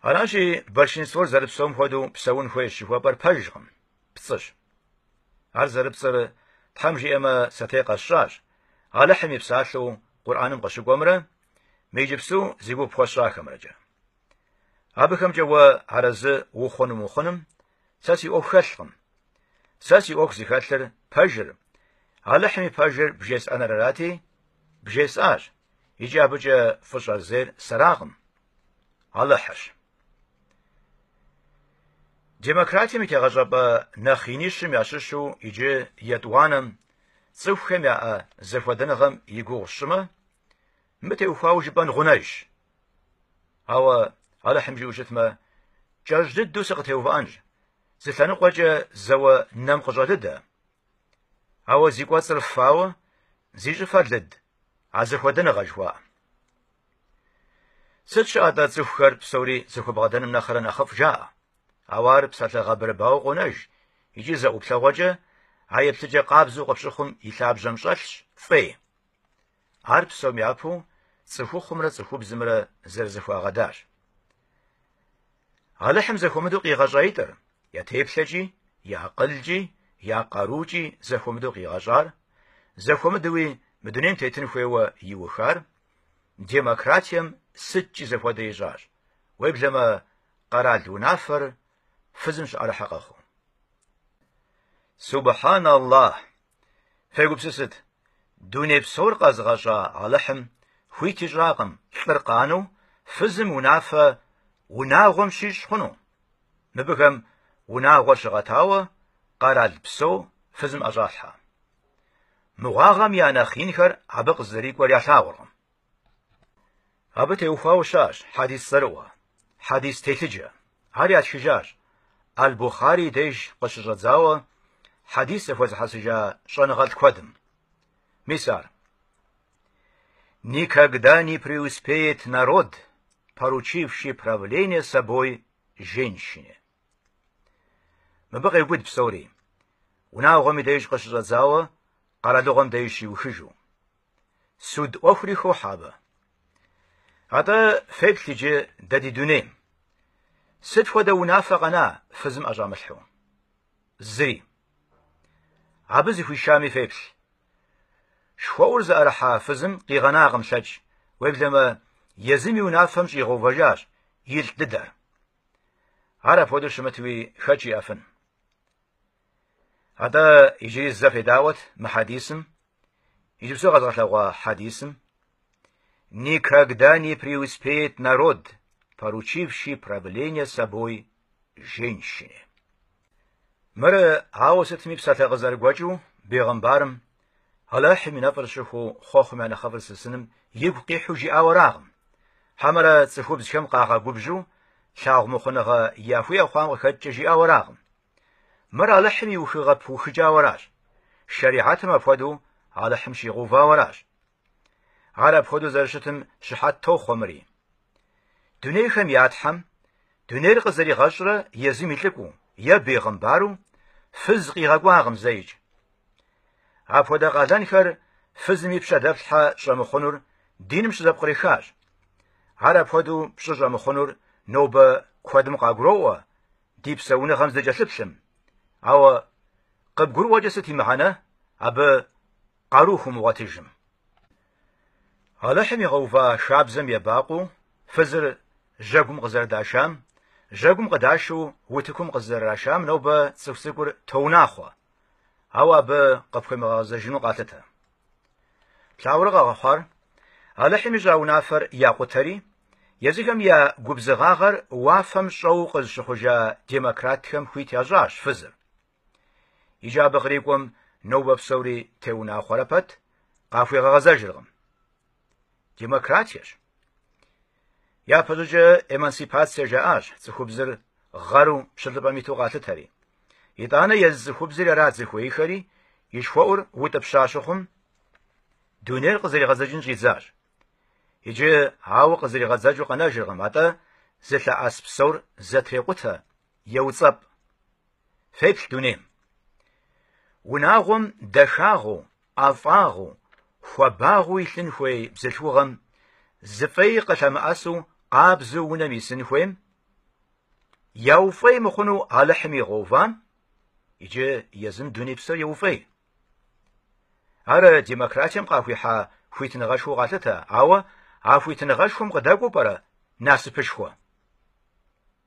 Аращи, большинствор зэрыпсэум хуэдэу псэун хуейщ жыхуэпӏэр пэжкъым, пцӏыщ. Ар зэрыпцӏыр, Тхьэм жиӏэмэ, сэтей къэсщӏащ, Алыхьым и псалъэу Къурӏэным къыщыкӏуэмрэ мы иджыпсту зи гугъу пхуэсщӏахэмрэкӏэ. Абыхэмкӏэ уэ арэзы ухъун умыхъуным сэ си ӏуэху хэлъкъым. Сэ си ӏуэху зыхэлъыр пэжыр, Алыхьым и пэжыр бжесӏэныр арати, бжесӏащ, икӏи абыкӏэ фӏыщӏэр зейр сэракъым, Алыхьырщ. Демократием и тегъэщӏапӏэ нэхъ инищым ящыщу иджы етӏуанэм цӏыхухэм яӏэ зэхуэдэныгъэм и гугъу тщӏымэ, Мыбы теухуауэ жыпӏэн гъунэжщ. Ауэ Алыхьым жиӏэу щытмэ, кӏэщӏ дыдэу сыкъытеувыӏэнщ, зы лъэныкъуэкӏэ зэуэ нэм къыщӏэлыдэ. Ауэ зи кӏуэцӏыр фауэ, зи щӏыфэр лыд, а зэхуэдэныгъэ жыхуаӏэ. Сыт щыӏэ-тӏэ цӏыхухэр псори зэхуэбгъэдэным нэхърэ нэхъыфӏ жаӏэ, ауэ ар псалъэ гъэбырыбауэ къонэж икӏи зэ ӏуплъэгъуэкӏэ а еплъыкӏэ къабзэу къыпщыхъум и лъабжьэм щӏэлъщ фӏей. Ар псом япэу цӏыхухъумрэ цӏыхубзымрэ зэрызэхуагъэдащ. Алыхьым зэхуэмыдэу къигъэщӏаитӏыр, я теплъэкӏи, я акъылкӏи, я къарукӏи зэхуэмыдэу къигъэщӏар, зэхуэмыдэуи мы дунейм тетын хуейуэ иухар, демократием сыткӏи зэхуэдэ ищӏащ, уеблэмэ къэрал унафэр фызым щыӏэрыхьэ къэхъуу. Субхьан Аллахь! Фегупсысыт, дуней псор къэзыгъэщӏа Алыхьым хуит ищӏакъым лӏыр къанэу фызым унафэ унагъуэм щищӏ хъуну? Мыбыхэм унагъуэр щыгъэтауэ къэрал псо фызым ӏэщӏалъхьэ. Мыгъуагъэм я нэхъ инхэр абы къызэрикӏуэр ялъагъуркъым. Абы теухуауэ щыӏэщ хьэдис цӏэрыӏуэ, хьэдис телъыджэ. Ар ятхыжащ Аль-Бухъарий деж къыщыщӏэдзауэ хьэдис зэхуэзыхьэсыжа щӏэныгъэлӏ куэдым. Мис ар. Никогда не преуспеет народ, поручивший правление собой женщине. Мыбы къеубыд псори. Унагъуэм и деж къыщыщӏэдзауэ, къэралыгъуэм деж щиухыжу. Суд ӏуэхури хохьэ абы. Атӏэ феплъ иджы дэ ди дунейм. Сыт хуэдэ унафэ къэна фызым ӏэщӏамылъхьу? Зыри. Абы зыхуишами феплъ. Шхуэӏур зыӏэрыхьа фызым къигъэнакъым лъэкӏ, уеблэмэ, езым и унафэм щӏигъэувэжащ и лӏ дыдэр. Ар апхуэдэу щымытуи хэт жиӏэфын? Атӏэ иджыри зэ федауэт мы хьэдисым, Иджыпсту къэзгъэлъэгъуа хьэдисым «Никогда не преуспеет народ, поручивший правление собой женщине». Мыр ауэ сытми псалъэ къызэрыгуэкӏыу бегъымбарым Алыхьым и нэфӏыр щыхуу хъуэхъум я нэхъыфӏыр лъысыным игу къихьу жиӏауэракъым. Хьэмэрэ цӏыхубзхэм къагъэгубжьу лъагъу мыхъуныгъэ яхуиӏэ хъуам къыхэкӏкӏэ жиӏауэракъым. Мыр Алыхьым и ухыгъэ пыухыкӏауэращ, шэрихьэтым апхуэдэу Алыхьым щигъэувауэращ. Ар апхуэдэу зэрыщытым щыхьэт тохъуэ мыри. Дунейхэм я Тхьэм, дунейр къызэригъэщӏрэ езым и лӏыкӏуу, е бегъымбару, фыз къигъэкӏуакъым зэикӏ. Апхуэдэ къалэнхэр фызым и пщэ дэплъхьэ щӏэмыхъунур диным щызэпкърихащ. Ар апхуэдэу пщӏы щӏэмыхъунур нобэ куэдым къагуроӏуэ, ди псэуныгъэм здыкӏэлъыплъым. Ауэ къыбгурыӏуэкӏэ сыт и мыхьэнэ абы къару хумыгъуэтыжым? Алыхьым игъэува шабзэм ебакъуэу фызыр жьэгум къызэрыдашам, жьэгум къыдашэу утыкум къызэрырашам нобэ цӏыху цӏыкӏур тоунахъуэ, ауэ абы къыпхуемыгъэгъэзэжыну къалъытэ. Плъагъурэ къагъэхъуар, Алыхьым ищӏа унафэр якъутэри, езыхэм я губзыгъагъэр уафэм щӏэу къызыщыхъужа демократхэм хуит ящӏащ фызыр. Иджы абы кърикӏуэм нобэ псори теунахъуэрэ пэт, къахуигъэгъэзэжыркъым. Демократиещ. Япэщӏыкӏэ эмансипацие жаӏащ цӏыхубзыр гъэру пщылӏыпӏэм иту къалъытэри. Итӏанэ езы цӏыхубзри арат зыхуеиххэри, и шхуэӏур утӏыпща щыхъум, дунейр къызэригъэдзэкӏын щӏидзащ. Иджы ауэ къызэригъэдзэкӏыу къэнэжыркъым, атӏэ зылъэӏэс псор зэтрекъутэ, еуцӏэпӏ. Феплъ дунейм. Унагъуэм дахагъэу, ӏэфӏагъэу, хуабагъыу илъын хуей бзылъхугъэм, зы фӏей къылъэмыӏэсу къабзэу унэм исын хуейм, яуфӏей мыхъуну Алыхьым игъэувам, иджы езым дуней псор еуфӏей. Ар демократием къахуихьа хуитыныгъэшхуэу къалъытэ, ауэ а хуитыныгъэшхуэм къыдэкӏуэу пӏэрэ насыпышхуэ?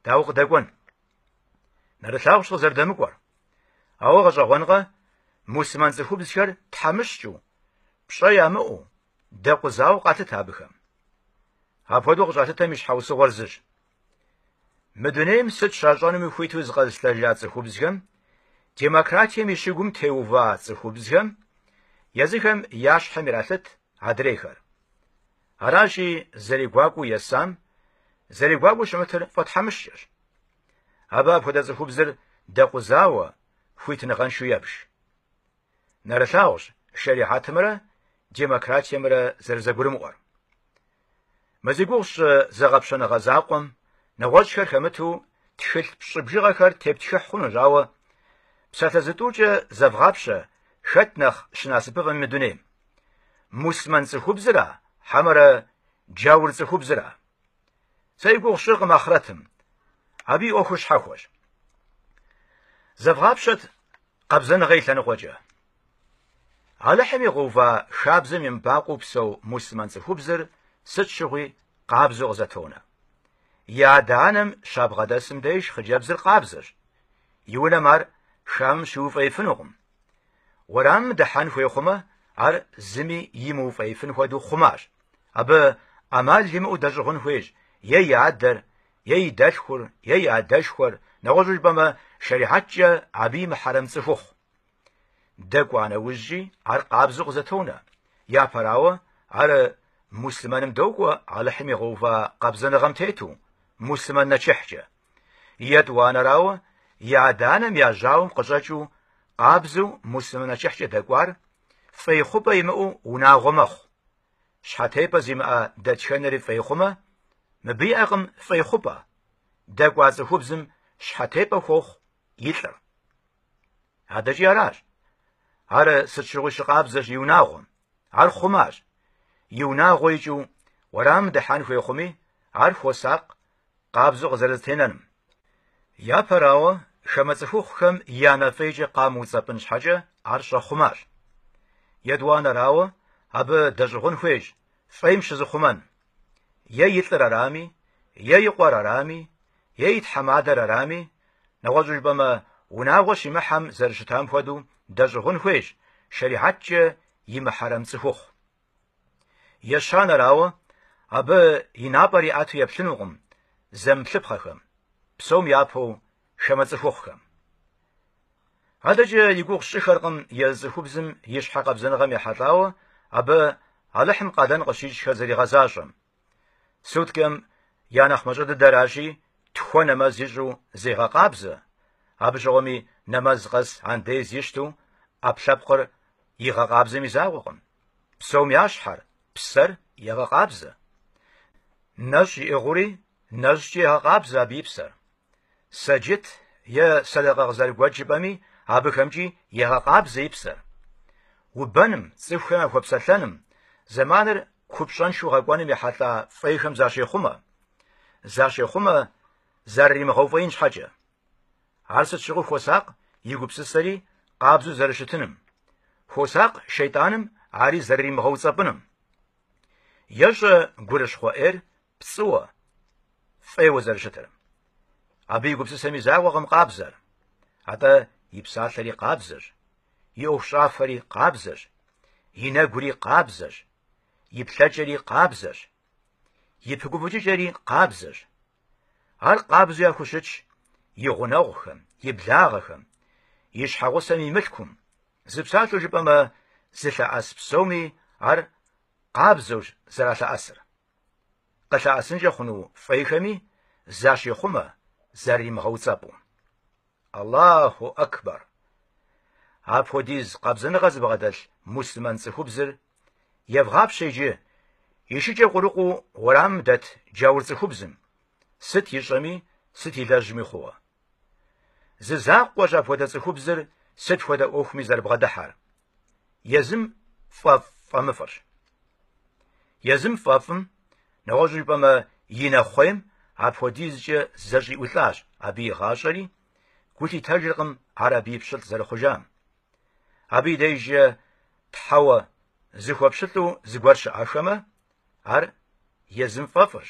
Дауэ къыдэкӏуэн? Нэрылъагъущ къызэрыдэмыкӏуэр. Ауэ гъэщӏэгъуэнкъэ, муслъымэн цӏыхубзхэр тхьэмыщкӏыу, пщӏэ ямыӏэу, дэкъузауэ къалъытэ абыхэм. Апхуэдэу къыщӏалъытэм и щхьэусыгъуэр зыщ. Мы дунейм сыт щащӏэнуми хуиту зыкъэзылъытэжа цӏыхубзхэм, демократием и щыгум теува цӏыхубзхэм, езыхэм я щхьэм иралъыт адрейхэр. Аращи, зэрегуакӏуэу есам, зэрегуакӏуэу щымытыр фӏэтхьэмыщкӏэщ. Абы апхуэдэ цӏыхубзыр дэкъузауэ, хуитыныгъэншэу ебж. Нэрылъагъущ шэрихьэтымрэ демократиемрэ зэрызэгурымыӏуэр. Мы зи гугъу сщӏы зэгъэпщэныгъэ закъуэм нэгъуэщӏхэр хэмыту тхылъ пщӏы бжыгъэхэр тептхыхь хъунущ, ауэ псалъэ зытӏукӏэ зэвгъапщэ хэт нэхъ щынасыпыфӏэми мы дунейм. Муслъымэн цӏыхубзра, хьэмэрэ джаур цӏыхубзра? Сэ и гугъу сщӏыркъым ахърэтым. Абы и ӏуэхур щхьэхуэщ. Зэвгъапщэт къабзэныгъэ и лъэныкъуэкӏэ. Алыхьым игъэува хабзэм емыбакъуэу псэу муслъымэн цӏыхубзыр сыт щыгъуи къабзэу къызэтонэ. И адэ-анэм щабгъэдэсым деж хъыджэбзыр къабзэщ. И унэм ар хамэм щиуфӏеифынукъым. Уэрамым дыхьэн хуей хъумэ, ар зыми имыуфӏеифын хуэдэу хъумащ. Абы ӏэмал имыӏэу дэщӏыгъун хуейщ е и адэр, е и дэлъхур, е и адэшхуэр, нэгъуэщӏу жыпӏэмэ, шэрихьэткӏэ абы и мыхьэрэм цӏыхухъу. Дэкӏуа нэужькӏи ар къабзэу къызэтонэ, япэрауэ, ар муслъымэным докӏуэ Алыхьым игъэува къабзэныгъэм тету, муслъымэн нэчыхькӏэ. Етӏуанэрауэ, и адэ-анэм я жьауэм къыщӏэкӏыу, къабзэу муслъымэн нэчыхькӏэ дэкӏуар фӏей хъупӏэ имыӏэу унагъуэ мэхъу. Щхьэтепӏэ зимыӏэ дэтхэнэри фӏей хъумэ, мыбы иӏэкъым фӏей хъупӏэ. Дэкӏуа цӏыхубзым щхьэтепӏэ хуохъу и лӏыр. Адэкӏи аращ. Ар сыт щыгъуи щыкъабзэщ и унагъуэм. Ар хъумащ. И унагъуэ икӏыу уэрам дыхьэн хуей хъуми, ар хуосакъ, къабзэу къызэрызэтенэным. Япэрауэ, хамэ цӏыхухъухэм я нэфӏейкӏэ къамыуцӏэпӏын щхьэкӏэ ар щӏэхъумащ. Етӏуанэрауэ, абы дэщӏыгъун хуейщ фӏейм щызыхъумэн. Е и лӏыр арами, е и къуэр арами, е и тхьэмадэр арами, нэгъуэщӏу жыпӏэмэ, унагъуэ щимыхьэм зэрыщытам хуэдэу дэщӏыгъун хуейщ шэрихьэткӏэ и мыхьэрэм цӏыхухъу. Ещанэрауэ, абы и напӏэр иӏэту еплъынукъым зэмыплъыпхъэхэм, псом япэу хамэ цӏыхухъухэм. Адэкӏэ и гугъу сщӏыххэркъым езы цӏыхубзым и щхьэ къабзэныгъэм ехьэлӏауэ абы Алыхьым къалэн къыщищӏхэр зэригъэзащӏэм. Суткэм я нэхъ мащӏэ дыдэращи, тхуэ нэмэз ищӏу зегъэкъабзэ, абы щыгъуэми нэмэз къэс андез ищту ӏэпкълъэпкъыр игъэкъабзэм и закъуэкъым. Псом я щхьэр, псэр егъэкъабзэ. Нэщӏ иӏыгъыури нэщӏкӏи егъэкъабзэ абы и псэр. Сэджыт е сэдэкъэ къызэрыгуэкӏ жыпӏэми, абыхэмкӏи егъэкъабзэ и псэр. Убэным, цӏыхухэм яхуэпсэлъэным, зэманыр купщӏэншэу гъэкӏуэным ехьэлӏа фӏейхэм защехъумэ. Защехъумэ зэрыримыгъэуфӏеин щхьэкӏэ. Ар сыт щыгъуи хуосакъ и гупсысэри къабзэу зэрыщытыным. Хуосакъ шейтӏаным ари зэрыримыгъэуцӏэпӏыным. Ещӏэ гурыщхъуэ ӏейр пцӏыуэ, фӏейуэ зэрыщытыр. Абы и гупсысэм и закъуэкъым къабзэр. Атӏэ и псалъэри къабзэщ, и ӏуэхущӏафэри къабзэщ, и нэгури къабзэщ, и плъэкӏэри къабзэщ, и пыгуфӏыкӏыкӏэри къабзэщ. Ар къабзу яхущытщ и гъунэгъухэм, и благъэхэм, и щхьэгъусэм и мылъкум. Зы псалъэу жыпӏэмэ, зылъэӏэс псоми ар къабзэущ зэралъэӏэсыр. къылъэӏэсынкӏэ хъуну фӏейхэми защехъумэ зыримыгъэуцӏэпӏу. Аллахьу Акбар! Апхуэдиз къабзэныгъэ зыбгъэдэлъ муслъымэн цӏыхубзыр евгъапщэ иджы и шыкӏэ къурыкъуу уэрамым дэт джаур цӏыхубзым, сыт ищӏэми, сыт илэжьми хъууэ. Зы закъуэщ апхуэдэ цӏыхубзыр сыт хуэдэ ӏуэхуми зэрыбгъэдыхьэр. Езым фӏэфӏ фӏэмыфӏырщ. Езым фӏэфӏым, нэгъуэщӏу жыпӏэмэ, и нэхъуейм апхуэдизкӏэ зэщӏиӏулӏащ абы и гъащӏэри, гу лъитэжыркъым ар абы и пщылӏ зэрыхъужам. Абы и дежкӏэ тхьэуэ зыхуэпщылӏу зыгуэр щыӏэхэмэ, ар езым фӏэфӏырщ,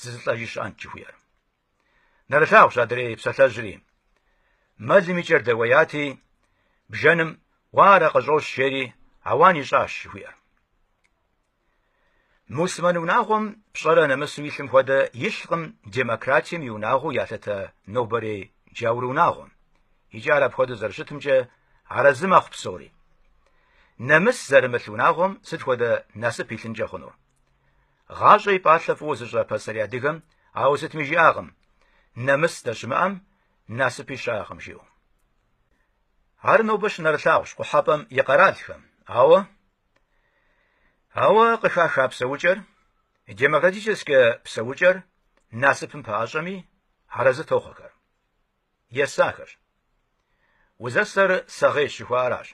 зызылӏэжи щыӏэнт жыхуиӏэр. Нэрылъагъущ адрей псалъэжьри. Мэлым и кӏэр дэуеяти, бжэным уарэ къыщӏощ жери ауан ищӏащ жыхуиӏэр. Муслъымэн унагъуэм пщӏэрэ нэмысу илъым хуэдэ илъкъым демократием и унагъуэу ялъытэ нобэрей джаур унагъуэм. Икӏи ар апхуэдэу зэрыщытымкӏэ арэзы мэхъу псори. Нэмыс зэрымылъ унагъуэм сыт хуэдэ насып илъынкӏэ хъунур? Гъащӏэ и пӏалъэ фӏыуэ зыщӏа пасэрей адыгэм ауэ сытми жиӏакъым, нэмыс здэщымыӏэм насыпи щыӏэкъым жиӏэу. Ар нобэ щынэрылъагъущ къухьэпӏэм и къэралхэм, ауэ ауэ къыхаха псэукӏэр, демократическэ псэукӏэр насыпым пэӏэщӏэми, арэзы тохъуэхэр. есахэщ. Узэсэр сэгъейщ жыхуаӏаращ.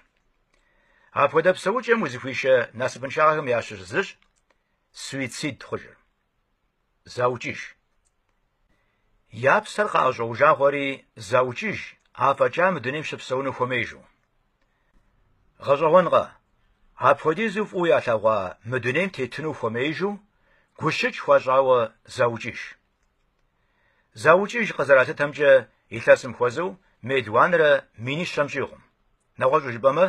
Апхуэдэ псэукӏэм узыхуишэ насыпыншагъэхэм ящыщ зыщ суицид хъужыр. Заукӏыж. Я псэр къаӏэщӏэужагъуэри заукӏыж, афӏэкӏа мы дунейм щыпсэуну хуэмеижу. Гъэщӏэгъуэнкъэ, апхуэдизу фӏыуэ ялъэгъуа мы дунейм тетыну хуэмеижу гущыкӏ хуащӏауэ заукӏыж. Заукӏыж къызэралъытэмкӏэ, илъэсым хуэзэу мелуанрэ минищэм щӏигъум. Нэгъуэщӏу жыпӏэмэ,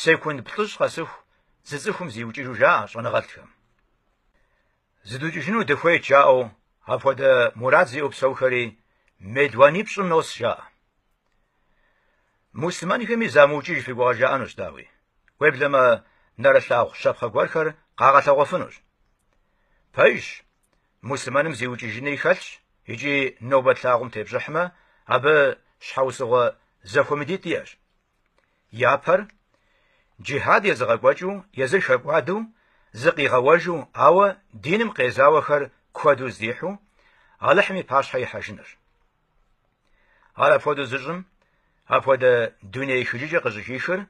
секунд плӏыщӏ къэсыху зы цӏыхум зиукӏыжу жаӏэ щӏэныгъэлӏхэм. Зыдукӏыжыну дыхуейт жаӏэу апхуэдэ мурад зиӏэу псэухэри мелуанипщӏым нос жаӏэ. Муслъымэнхэми замыукӏыж фи гугъэ жаӏэнущ, дауи, уеблэмэ нэрылъагъу щапхъэ гуэрхэр къагъэлъэгъуэфынущ. Пэжщ, муслъымэным зиукӏыжынри хэлъщ икӏи нобэ тлъагъум тепщӏыхьмэ, абы щхьэусыгъуэ зэхуэмыдитӏ иӏэщ. Япэр, джихьад езыгъэкӏуэкӏыу, езыр хэкӏуадэу, зыкъигъэуэжу, ауэ диным къезауэхэр куэду здихьу, Алыхьым и пащхьэ ихьэжынырщ. Ар апхуэдэу зыщӏым, апхуэдэ дуней ехыжыкӏэ къыщӏыхихыр,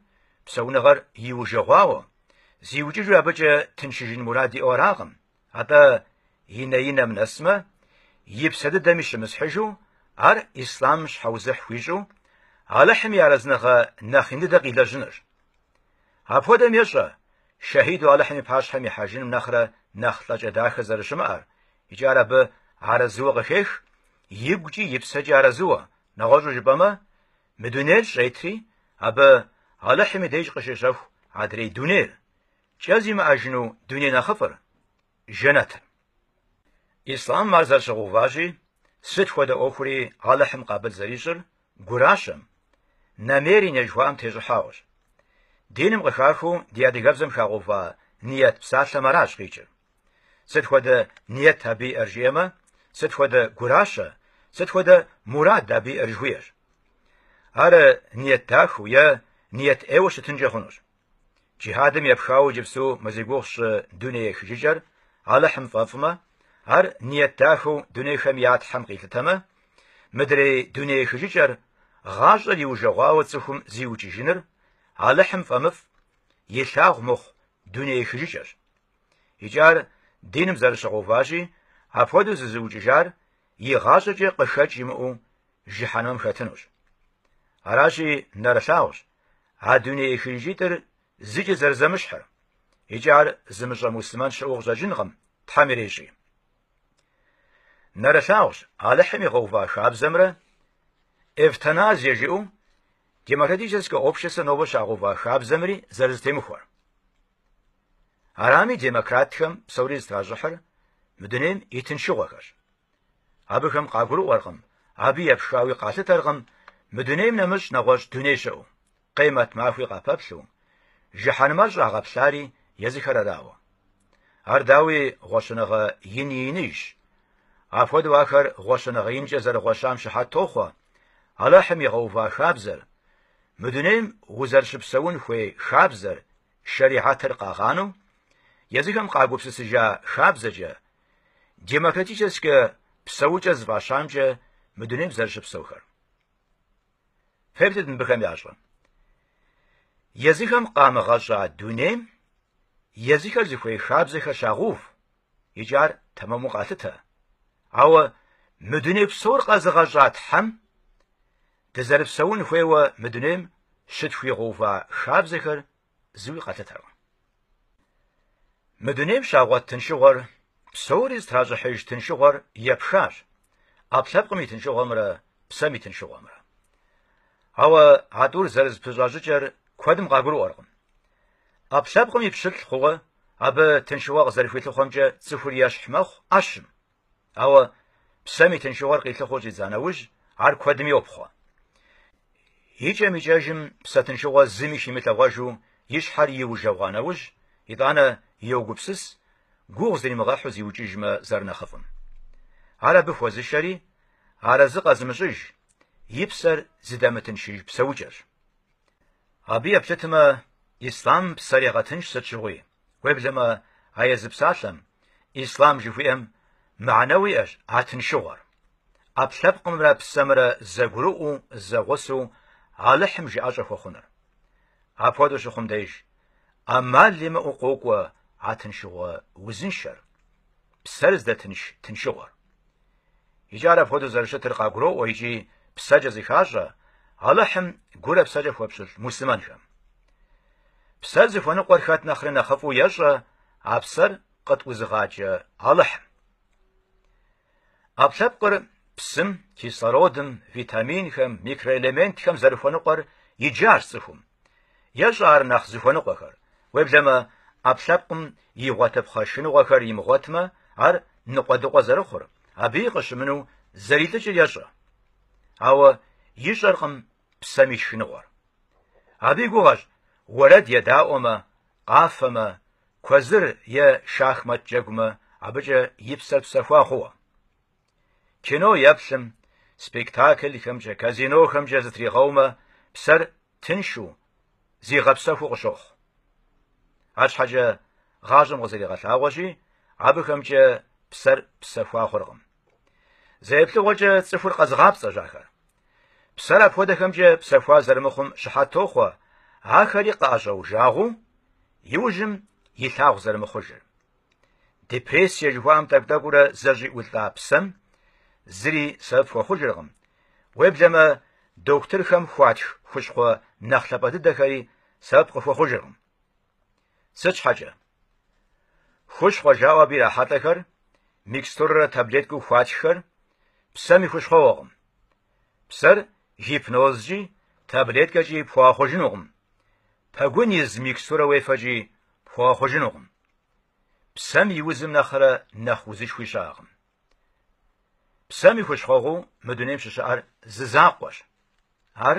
псэуныгъэр иужэгъуауэ, зиукӏыжу абыкӏэ тыншыжын мурад иӏэу аракъым, Атӏэ и нэинэм нэсмэ, и псэ дыдэми щымысхьыжу, ар ислъам щхьэузыхь хуищӏу, Алыхьым и арэзыныгъэ нэхъ ин дыдэ къилэжьынырщ. Апхуэдэм ещӏэ, шэхьиду Алыхьым и пащхьэм ихьэжыным нэхърэ нэхъ лӏэкӏэ дахэ зэрыщымыӏэр, икӏи ар абы арэзыуэ къыхех, игукӏи и псэкӏи арэзыуэ, нэгъуэщӏу жыпӏэмэ, мы дунейр щӏетри, абы Алыхьым и деж къыщещэху адрей дунейр, Кӏэ зимыӏэжыну дуней нэхъыфӏыр, жэнэтыр. Ислъамым ар зэрыщыгъэуващи, сыт хуэдэ ӏуэхури Алыхьым къабыл зэрищӏыр гуращэм, намерение жыхуаӏэм тещӏыхьауэщ. Диным къыхахыу ди адыгэбзэм хагъэува ниет псалъэм аращ къикӏыр. Сыт хуэдэ ниет абы иӏэр жиӏэмэ, сыт хуэдэ гуращэ, сыт хуэдэ мурад абы иӏэр жыхуиӏэщ. Ар ниет дахэу е ниет ӏейуэ щытынкӏэ хъунущ. Джихьадым епхауэ иджыпсту мы зи гугъу сщӏы дуней ехыжыкӏэр Алыхьым фӏэфӏмэ, ар ниет дахэу дунейхэм я Тхьэм къилъытэмэ, мыдрей дуней ехыжыкӏэр, гъащӏэр иужэгъуауэ цӏыхум зиукӏыжыныр, Алыхьым фӏэмыфӏ, илъагъу мыхъу дуней ехыжыкӏэщ. Икӏи ар диным зэрыщыгъэуващи, апхуэдэу зызыукӏыжар игъащӏэкӏэ къыхэкӏ имыӏэу жыхьэнэмэм хэтынущ. Аращи, нэрылъагъущ. А дуней ехыжыкӏитӏыр зыкӏи зэрызэмыщхьыр. Икӏи ар зымыщӏэ муслъымэн щыӏэу къыщӏэкӏынкъым, Тхьэм ирещӏи. Нэрылъагъущ Алыхьым игъэува хабзэмрэ эвтаназие жиӏэу демократическэ обществэ нобэ щагъэува хабзэмри зэрызэтемыхуэр. Арами демократхэм псори зытращӏыхьыр мы дунейм и тыншыгъуэхэрщ. Абыхэм къагурыӏуэркъым, абы епхауи къалъытэркъым мы дунейм нэмыщӏ нэгъуэщӏ дуней щыӏэу, къемэт махуи къапэплъэу, жыхьэнмэр щӏагъэплъари езыхэр арауэ. Ар дауи гъуэщэныгъэ ин и иныжщ. Апхуэдэу ахэр гъуэщэныгъэ инкӏэ зэрыгъуэщам щыхьэт тохъуэ Алыхьым игъэува хабзэр, мы дунейм узэрыщыпсэун хуей хабзэр, шэрихьэтыр къагъанэу, езыхэм къагупсысыжа хабзэкӏэ Демократическэ псэукӏэ зыфӏащамкӏэ мы дунейм зэрыщыпсэухэр. Феплъыт мыбыхэм ящӏэм. Езыхэм къамыгъэщӏа дунейм езыхэр зыхуей хабзэхэр щагъув икӏи ар тэмэму къалъытэ. Ауэ мы дуней псор къэзыгъэщӏа Тхьэм дызэрыпсэун хуейуэ мы дунейм щытхуигъэува хабзэхэр зыуи къалъытэркъым. Мы дунейм щагъуэт тыншыгъуэр, псори зытращӏыхьыж тыншыгъуэр епхащ, ӏэпкълъэпкъым и тыншыгъуэмрэ псэм и тыншыгъуэмрэ. Ауэ а тӏур зэрызэпыщӏа щӏыкӏэр куэдым къагурыӏуэркъым. ӏэпкълъэпкъым и пщылӏ хъууэ абы тыншыгъуэ къызэрыхуилъыхъуэмкӏэ цӏыхур ещхь мэхъу ӏэщым, Ауэ псэм и тыншыгъуэр къилъыхъуэу щӏидза нэужь, ар куэдым йопхъуэ. Икӏэм-икӏэжым псэ тыншыгъуэ зыми химылъэгъуэжу и щхьэр иужэгъуа нэужь, итӏанэ йогупсыс, гугъу зримыгъэхьу зиукӏыжмэ зэрынэхъыфӏым. Ар абы хуэзыщэри, арэзы къэзымыщӏыж, и псэр зыдэмытыншыж псэукӏэщ. Абы еплъытмэ, ислъам псэр егъэтынш сыт щыгъуи, уеблэмэ а езы псалъэм, ислъам жыхуиӏэм мыхьэнэуэ иӏэщ а тыншыгъуэр. ӏэпкълъэпкъымрэ псэмрэ зэгурыӏуэу, зэгъусэу Алыхьым жыӏэщӏэ хуэхъуныр. Апхуэдэу щыхъум деж, ӏэмал имыӏэу къокӏуэ а тыншыгъуэ узыншэр, псэр здэтынш тыншыгъуэр. Икӏи ар апхуэдэу зэрыщытыр къагуроӏуэ икӏи псэкӏэ зыхащӏэ Алыхьым гурэ псэкӏэ хуэпщылӏ муслъымэнхэм. Псэр зыхуэныкъуэр хэт нэхъри нэхъыфӏу ещӏэ, а псэр къытӏузыгъакӏэ Алыхьым. ӏэпкълъэпкъыр псым, кислородым, витаминхэм, микроэлементхэм зэрыхуэныкъуэр иджащ цӏыхум. Ещӏэ ар нэхъ зыхуэныкъуэхэр. Уеблэмэ, ӏэпкълъэпкъым игъуэтыпхъэ шхыныгъуэхэр имыгъуэтмэ, ар ныкъуэдыкъуэ зэрыхъур, абыи къыщымынэу зэрилӏыкӏыр ещӏэ. Ауэ ищӏэркъым псэм и шхыныгъуэр. Абы и гугъэщ уэрэд едаӏуэмэ, къафэмэ, куэзыр е шахмат джэгумэ абыкӏэ и псэр псэхуа хъууэ. Кино еплъым, спектаклхэмкӏэ, казинохэмкӏэ зытригъэумэ, псэр тыншу, зигъэпсэхуу къыщохъу. Арщхьэкӏэ гъащӏэм къызэригъэлъагъуэщи, абыхэмкӏэ псэр псэхуа хъуркъым. Зэ еплъыгъуэкӏэ цӏыхур къэзыгъапцӏэщ ахэр. Псэр апхуэдэхэмкӏэ псэхуа зэрымыхъум щыхьэт тохъуэ, ахэри къыӏэщӏэужагъэу, иужьым илъагъу зэрымыхъужыр. Депрессие жыхуаӏэм тӏэкӏу-тӏэкӏуурэ зэщӏиӏулӏа псэм зыри сэбэп хуэхъужыркъым. Уеблэмэ, дохутырхэм хуатх хущхъуэ нэхъ лъапӏэ дыдэхэри сэбэп къыхуэхъужыркъым. Сыт щхьэкӏэ? Хущхъуэ жаӏэу абы ирахьэлӏэхэр, микстурэрэ таблеткэу хуатххэр, псэм и хущхъуэгъуэкъым. Псэр гипнозкӏи, таблеткэкӏи пхуэгъэхъужынукъым. Пэгун из микстурэ уефэкӏи пхуэгъэхъужынукъым. Псэм и узым нэхърэ нэхъ узышхуи щыӏэкъым. Псэм и хущхъуэгъуэу мы дунейм щыщыӏэр зы закъуэщ. Ар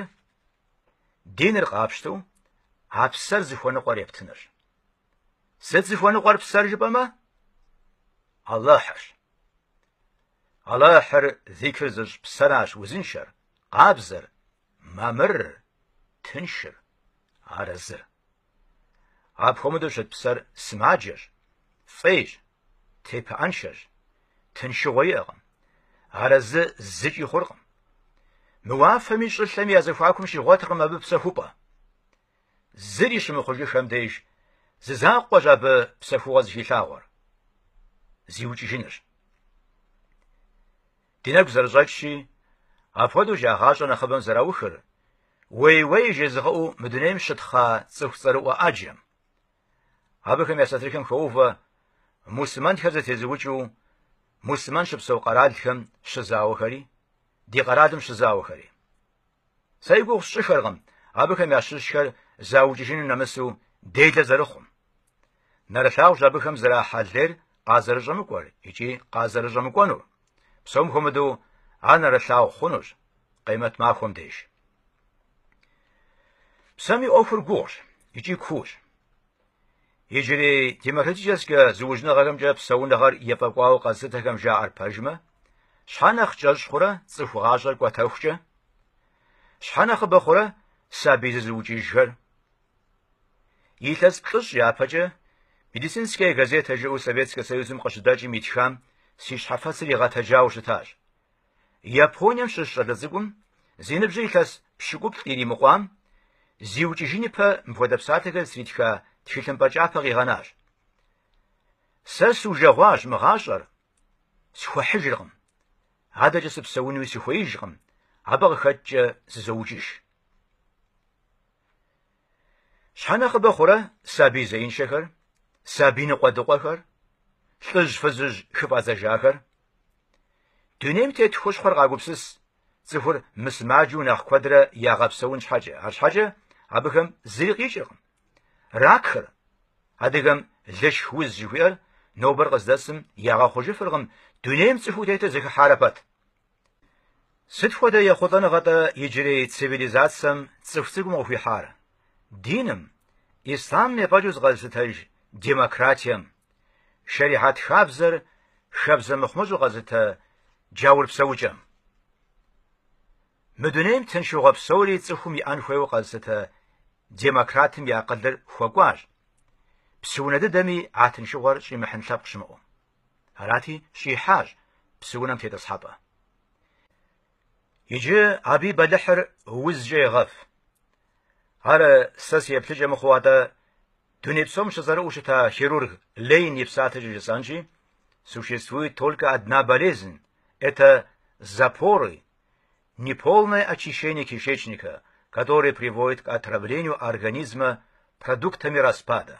диныр къапщтэу а псэр зыхуэныкъуэр ептынырщ. Сыт зыхуэныкъуэр псэр жыпӏэмэ? Аллахьырщ. Аллахьыр зикыр зыщӏ псэращ узыншэр, къабзэр, Мамырыр, тыншыр, арэзыр. Апхуэмыдэу щыт псэр сымаджэщ, фӏейщ, тепыӏэншэщ, тыншыгъуэ иӏэкъым, арэзы зыкӏи хъуркъым. Мы уафэми щӏылъэми я зэхуакум щигъуэтыркъым абы псэхупӏэ. Зыри щымыхъужыххэм деж зы закъуэщ абы псэхугъуэ зыхилъагъуэр. Зиукӏыжынущ. Ди нэгу зэрыщӏэкӏщи, апхуэдэу я гъащӏэ нэхъыбэм зэраухыр, уей-уей жезыгъэӏэу мы дунейм щытхъа цӏыху цӏэрыӏуэ ӏэджэм. Абыхэм я сатырхэм хоувэ муслъымэнхэр зэтезыукӏэу муслъымэн щыпсэу къэралхэм щызауэхэри, ди къэралым щызауэхэри. Сэ и гугъу сщӏыххэркъым абыхэм ящыщхэр заукӏыжыну нэмысу делэ зэрыхъум. Нэрылъагъущ абыхэм зэрахьэ лейр къазэрыщӏэмыкӏуэр икӏи къазэрыщӏэмыкӏуэнур. Псом хуэмыдэу ар нэрылъагъу хъунущ къемэт махуэм деж. Псэм и ӏуэхур гугъущ икӏи куущ. Иджырей демократическэ зыужьыныгъэхэмкӏэ псэуныгъэр ефӏэкӏуауэ къэзылъытэхэм жаӏэр пэжмэ, щхьэ нэхъ кӏэщӏ хъурэ цӏыху гъащӏэр кӏуэтэхукӏэ? Щхьэ нэхъыбэ хъурэ сабий зызыукӏыжхэр? Илъэс плӏыщӏ япэкӏэ Медицинская газета жыӏэу Советскэ Союзым къыщыдэкӏым итхам си щхьэфэцыр игъэтэджауэ щытащ. Японием щыщ щӏалэ цӏыкӏум зи ныбжьыр илъэс пщыкӏуплӏ иримыкъуам, зиукӏыжын ипэ мыпхуэдэ псалъэхэр зытритха тхылъымпӏэ кӏапэ къигъэнащ. Сэ сужэгъуащ мы гъащӏэр, схуэхьыжыркъым. Адэкӏэ сыпсэунуи сыхуеижкъым, абы къыхэкӏкӏэ зызоукӏыж. Щхьэ нэхъыбэ хъурэ сабий зеиншэхэр, сабий ныкъуэдыкъуэхэр, лӏыжь-фызыжь хыфӏадзэжахэр? Дунейм тет хущхъуэр къагупсыс цӏыхур мысымаджэу нэхъ куэдрэ ягъэпсэун щхьэкӏэ, арщхьэкӏэ абыхэм зыри къикӏыркъым. Ракхэр, адыгэм лышх уз жыхуиӏэр, нобэр къыздэсым ягъэхъужыфыркъым, дунейм цӏыхуу тетыр зэхыхьарэ пэт. Сыт хуэдэ ехъулӏэныгъэ-тӏэ иджырей цивилизацэм цӏыху цӏыкӏум къыхуихьар? Диным, ислъамым ефӏэкӏыу зыкъэзылъытэж демократием, шэрихьэт хабзэр хабзэ мыхъумыщӏэу къэзылъытэ джаур псэукӏэм. Мы дунейм тыншыгъуэ псори цӏыхум иӏэн хуейуэ къэзылъытэ демократым и акъылыр хуэкӏуащ, псыунэ дыдэми а тыншыгъуэр щӏимыхьын лъэпкъ щымыӏэу. Арати, щӏихьащ псыунэм тетӏысхьэпӏэ. Иджы абы и бэлыхьыр узкӏэ егъэв. Ар сэ си еплъыкӏэ мыхъуу атӏэ, дуней псом щызэрыӏуэу щыта хирург Лейн и псалъэкӏэ жысӏэнщи, существует только одна болезнь – это запоры, неполное очищение кишечника, которое приводит к отравлению организма продуктами распада.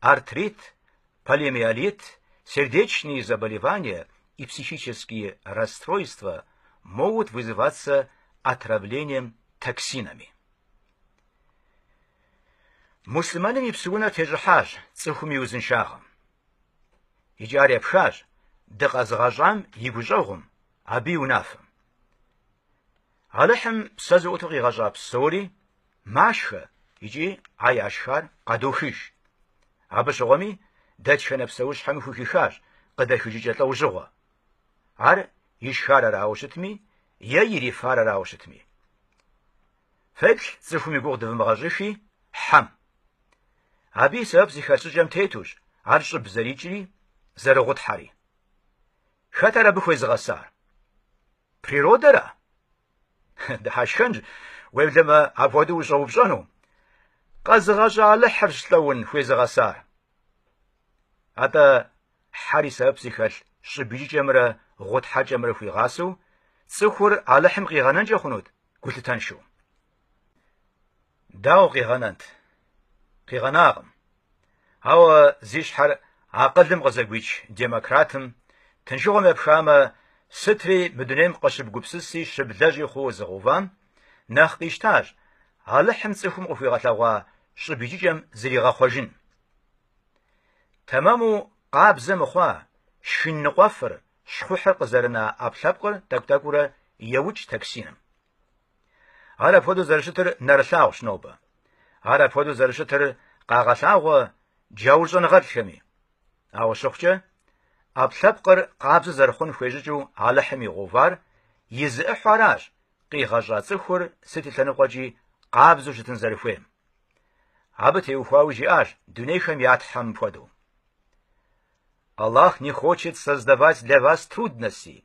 Артрит, полиомиелит, сердечные заболевания и психические расстройства могут вызываться отравлением токсинами. Муслъымэным и псыунэр тещӏыхьащ цӏыхум и узыншагъэм. Икӏи ар епхащ дыкъэзыгъэщӏам и гущӏэгъум, абы и унафэм. Алыхьым псэ зыӏуту къигъэщӏа псори Машхэ икӏи а яшхар къадохыж. Абы щыгъуэми дэтхэнэ псэущхьэми хухихащ къыдэхыжыкӏэ лӏэужьыгъуэ. Ар ишхар арауэ щытми е ирифар арауэ щытми. Феплъ цӏыхум и гугъу дывымыгъэщӏыхи хьэм. Абы и сэбэп зыхэлъ щӏыкӏэм тетущ ар щӏыб зэрикӏри, зэрыгъутхьэри. Хэт ар абы хуезыгъэсар? Природэра? Дыхьэшхэнщ, уеблэмэ апхуэдэу ущӏэупщӏэну. Къэзыгъэщӏа Алыхьырщ лӏэун хуезыгъэсар. Атӏэ хьэр и сэбэп зыхэлъ щӏыб икӏыкӏэмрэ гъутхьэкӏэмрэ хуигъасэу цӏыхур Алыхьым къигъэнэнкӏэ хъунут гулъытэншэу. Дауэ къигъэнэнт? Къигъэнакъым. Ауэ зи щхьэр акъылым къызэгуич демократым, тыншыгъуэм епхамэ, сытри мы дунейм къыщыбгупсыси щыблэжьи хъууэ зыгъэувам, нэхъ къищтащ Алыхьым цӏыхум къыхуигъэлъэгъуа щӏыб икӏыкӏэм зригъэхъуэжын. Тэмэму къабзэ мыхъуа шхын ныкъуэфыр, щхъухьыр къызэрына ӏэпкълъэпкъыр тӏэкӏу-тӏэкӏуурэ еукӏ токсиным. Ар апхуэдэу зэрыщытыр нэрылъагъущ нобэ. Ар апхуэдэу зэрыщытыр къагъэлъагъуэ джаур щӏэныгъэлӏхэми. Ауэ щыхъукӏэ, ӏэпкълъэпкъыр къабзэ зэрыхъун хуей щӏыкӏэу Алыхьым игъэувар и зы ӏыхьэу аращ, къигъэщӏа цӏыхур сыт и лъэныкъуэкӏи къабзэу щытын зэрыхуейм. Абы теухуауи жиӏащ дунейхэм я Тхьэм мыпхуэдэу. Аллах не хочет создавать для вас трудности,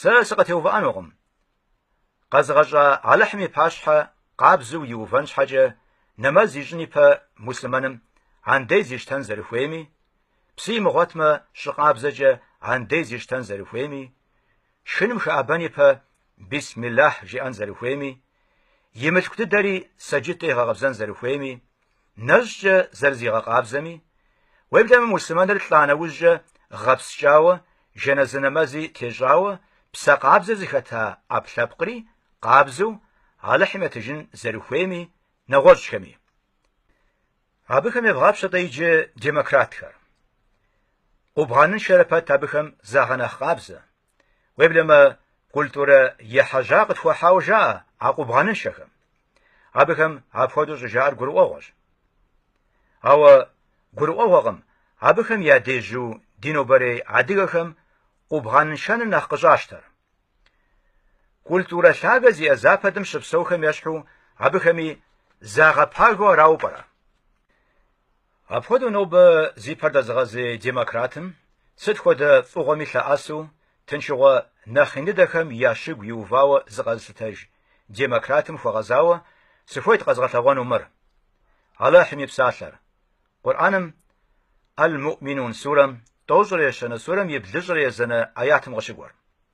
Сэ сыкъытеувыӏэнукъым. Къэзыгъэщӏа Алыхьым и пащхьэ къабзэу иувэн щхьэкӏэ нэмэз ищӏын ипэ муслъымэным андез ищтэн зэрыхуейми, псы имыгъуэтмэ щӏы къабзэкӏэ андез ищтэн зэрыхуейми, шхыным хэӏэбэн ипэ Бисмиллахь жиӏэн зэрыхуейми, и мылъку дыдэри сэджыткӏэ игъэкъэбзэн зэрыхуейми, нэщӏкӏэ зэрызигъэкъабзэми, уеблэмэ муслъымэныр лӏа нэужькӏэ гъэпскӏауэ, жэназы нэмэзи тещӏауэ псэ къабзэ зыхэта ӏэпкълъэпкъри къабзэу Алыхьым етыжын зэрыхуейми, нэгъуэщӏхэми. Абыхэм евгъапщэ-тӏэ иджы демократхэр. Къубгъэныншэрэ пэт абыхэм загъэнэхъ къабзэ. Уеблэмэ, культурэ ехьэжьа къытхуахьауэ жаӏэ а къубгъэныншэхэм. Абыхэм апхуэдэу щӏыжаӏэр гурыӏуэгъуэщ. Ауэ гурыӏуэгъуэкъым абыхэм ядежьу ди нобэрей адыгэхэм къубгъэныншэныр нэхъ къыщӏащтэр. Культурэ лъагэ зиӏэ Западым щыпсэухэм ещхьу абыхэми загъэпагэу арауэ пӏэрэ? Апхуэдэу нобэ зи пэр дэзыгъэзей демократым сыт хуэдэ фӏыгъуэми лъэӏэсу тыншыгъуэ нэхъ ин дыдэхэм я щыгу иувауэ зыкъэзылъытэж демократым хуэгъэзауэ сыхуейт къэзгъэлъэгъуэну мыр, Алыхьым и псалъэр. Къурӏэным Аль-Муӏминун сурэм тӏощӏрэ ещанэ сурэм и блыщӏрэ езанэ аятым къыщыкӏуэр.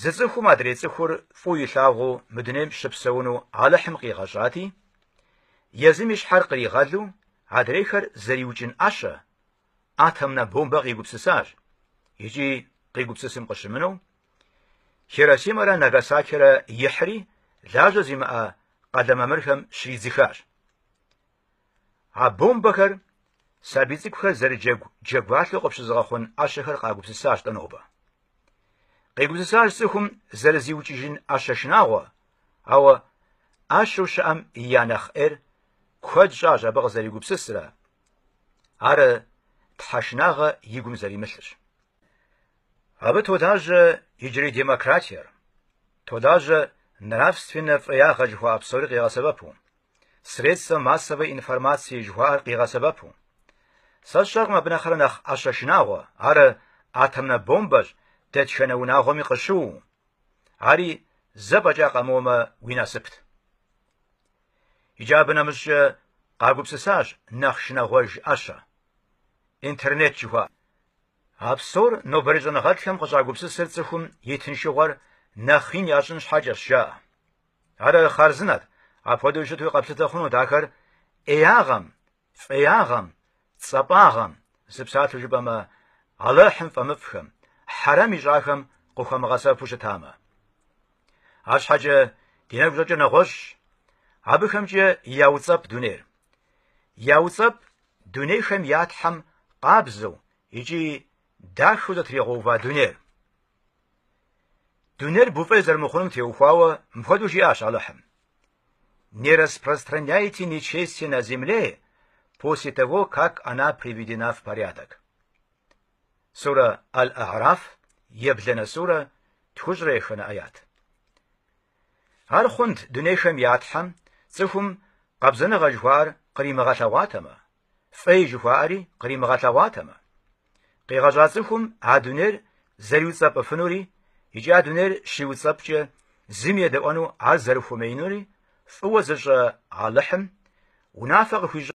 Зы цӏыхум адрей цӏыхур фӏыуэ илъагъуу мы дунейм щыпсэуну Алыхьым къигъэщӏати, езым и щхьэр къригъэлу адрейхэр зэриукӏын ӏэщэ, атомнэ бомбэ къигупсысащ икӏи къигупсысым къыщымынэу, Хиросимэрэ Нагасакирэ ихьри лажьэ зимыӏэ къалэ мамырхэм щридзыхащ. А бомбэхэр сабий цӏыкӏухэр зэрыджэгу джэгуалъэу къыпщызыгъэхъун ӏэщэхэр къагупсысащ-тӏэ нобэ. Къигупсысащ цӏыхум зэрызиукӏыжын ӏэщэ шынагъуэ, ауэ ӏэщэу щыӏэм я нэхъ ӏейр куэд щӏащ абы къызэригупсысрэ, ар тхьэшынагъэ и гум зэримылъырщ. Абы толажьэ иджырей демократиер, толажьэ нравственнэ фӏеягъэ жыхуаӏэ псори къигъэсэбэпу. средства массовой информации жыхуаӏэр къигъэсэбэпу. Сэ сщӏэркъым абы нэхърэ нэхъ ӏэщэ шынагъуэ, ар атомнэ бомбэщ, дэтхэнэ унагъуэми къыщыуэу. Ари зэ фӏэкӏа къэмыуэмэ уи насыпт. Иджы абы нэмыщӏкӏэ къагупсысащ нэхъ шынагъуэж ӏэщэ. Интернет жыхуаӏэр. А псор нобэрей щӏэныгъэлӏхэм къыщӏагупсысыр цӏыхум и тыншыгъуэр нэхъ ин ящӏын щхьэкӏэщ, жаӏэ. Ар хъарзынэт, апхуэдэу щытуи къэплъытэ хъунут ахэр ӏеягъэм, фӏеягъэм, цӏэпӏагъэм, зы псалъэу жыпӏэмэ, Алыхьым фӏэмыфӏхэм, хьэрэм ищӏахэм къыхуамыгъэсэбэпу щытамэ. Арщхьэкӏэ ди нэгу щӏэкӏыр нэгъуэщӏщ, абыхэмкӏэ яуцӏэпӏ дунейр. Яуцӏэпӏ дунейхэм я Тхьэм къабзэу икӏи дахэу зэтригъэува дунейр. Дунейр буфӏей зэрымыхъунум теухуауэ мыпхуэдэу жиӏащ Алыхьым. Не распространяйте нечестие на земле после того, как она приведена в порядок. Сурэ Аль-А'раф, ебланэ сурэ, тхущӏрэ еханэ аят. Ар хъунт дунейхэм я Тхьэм цӏыхум къабзэныгъэ жыхуаӏэр къримыгъэлъэгъуатэмэ, фӏей жыхуаӏэри къримыгъэлъэгъуатэмэ. Къигъэщӏа цӏыхум а дунейр зэриуцӏэпӏыфынури икӏи а дунейр щиуцӏэпӏкӏэ зыми едэӏуэну ар зэрыхуэмеинури фӏыуэ зыщӏэ Алыхьым унафэ къыхуищӏа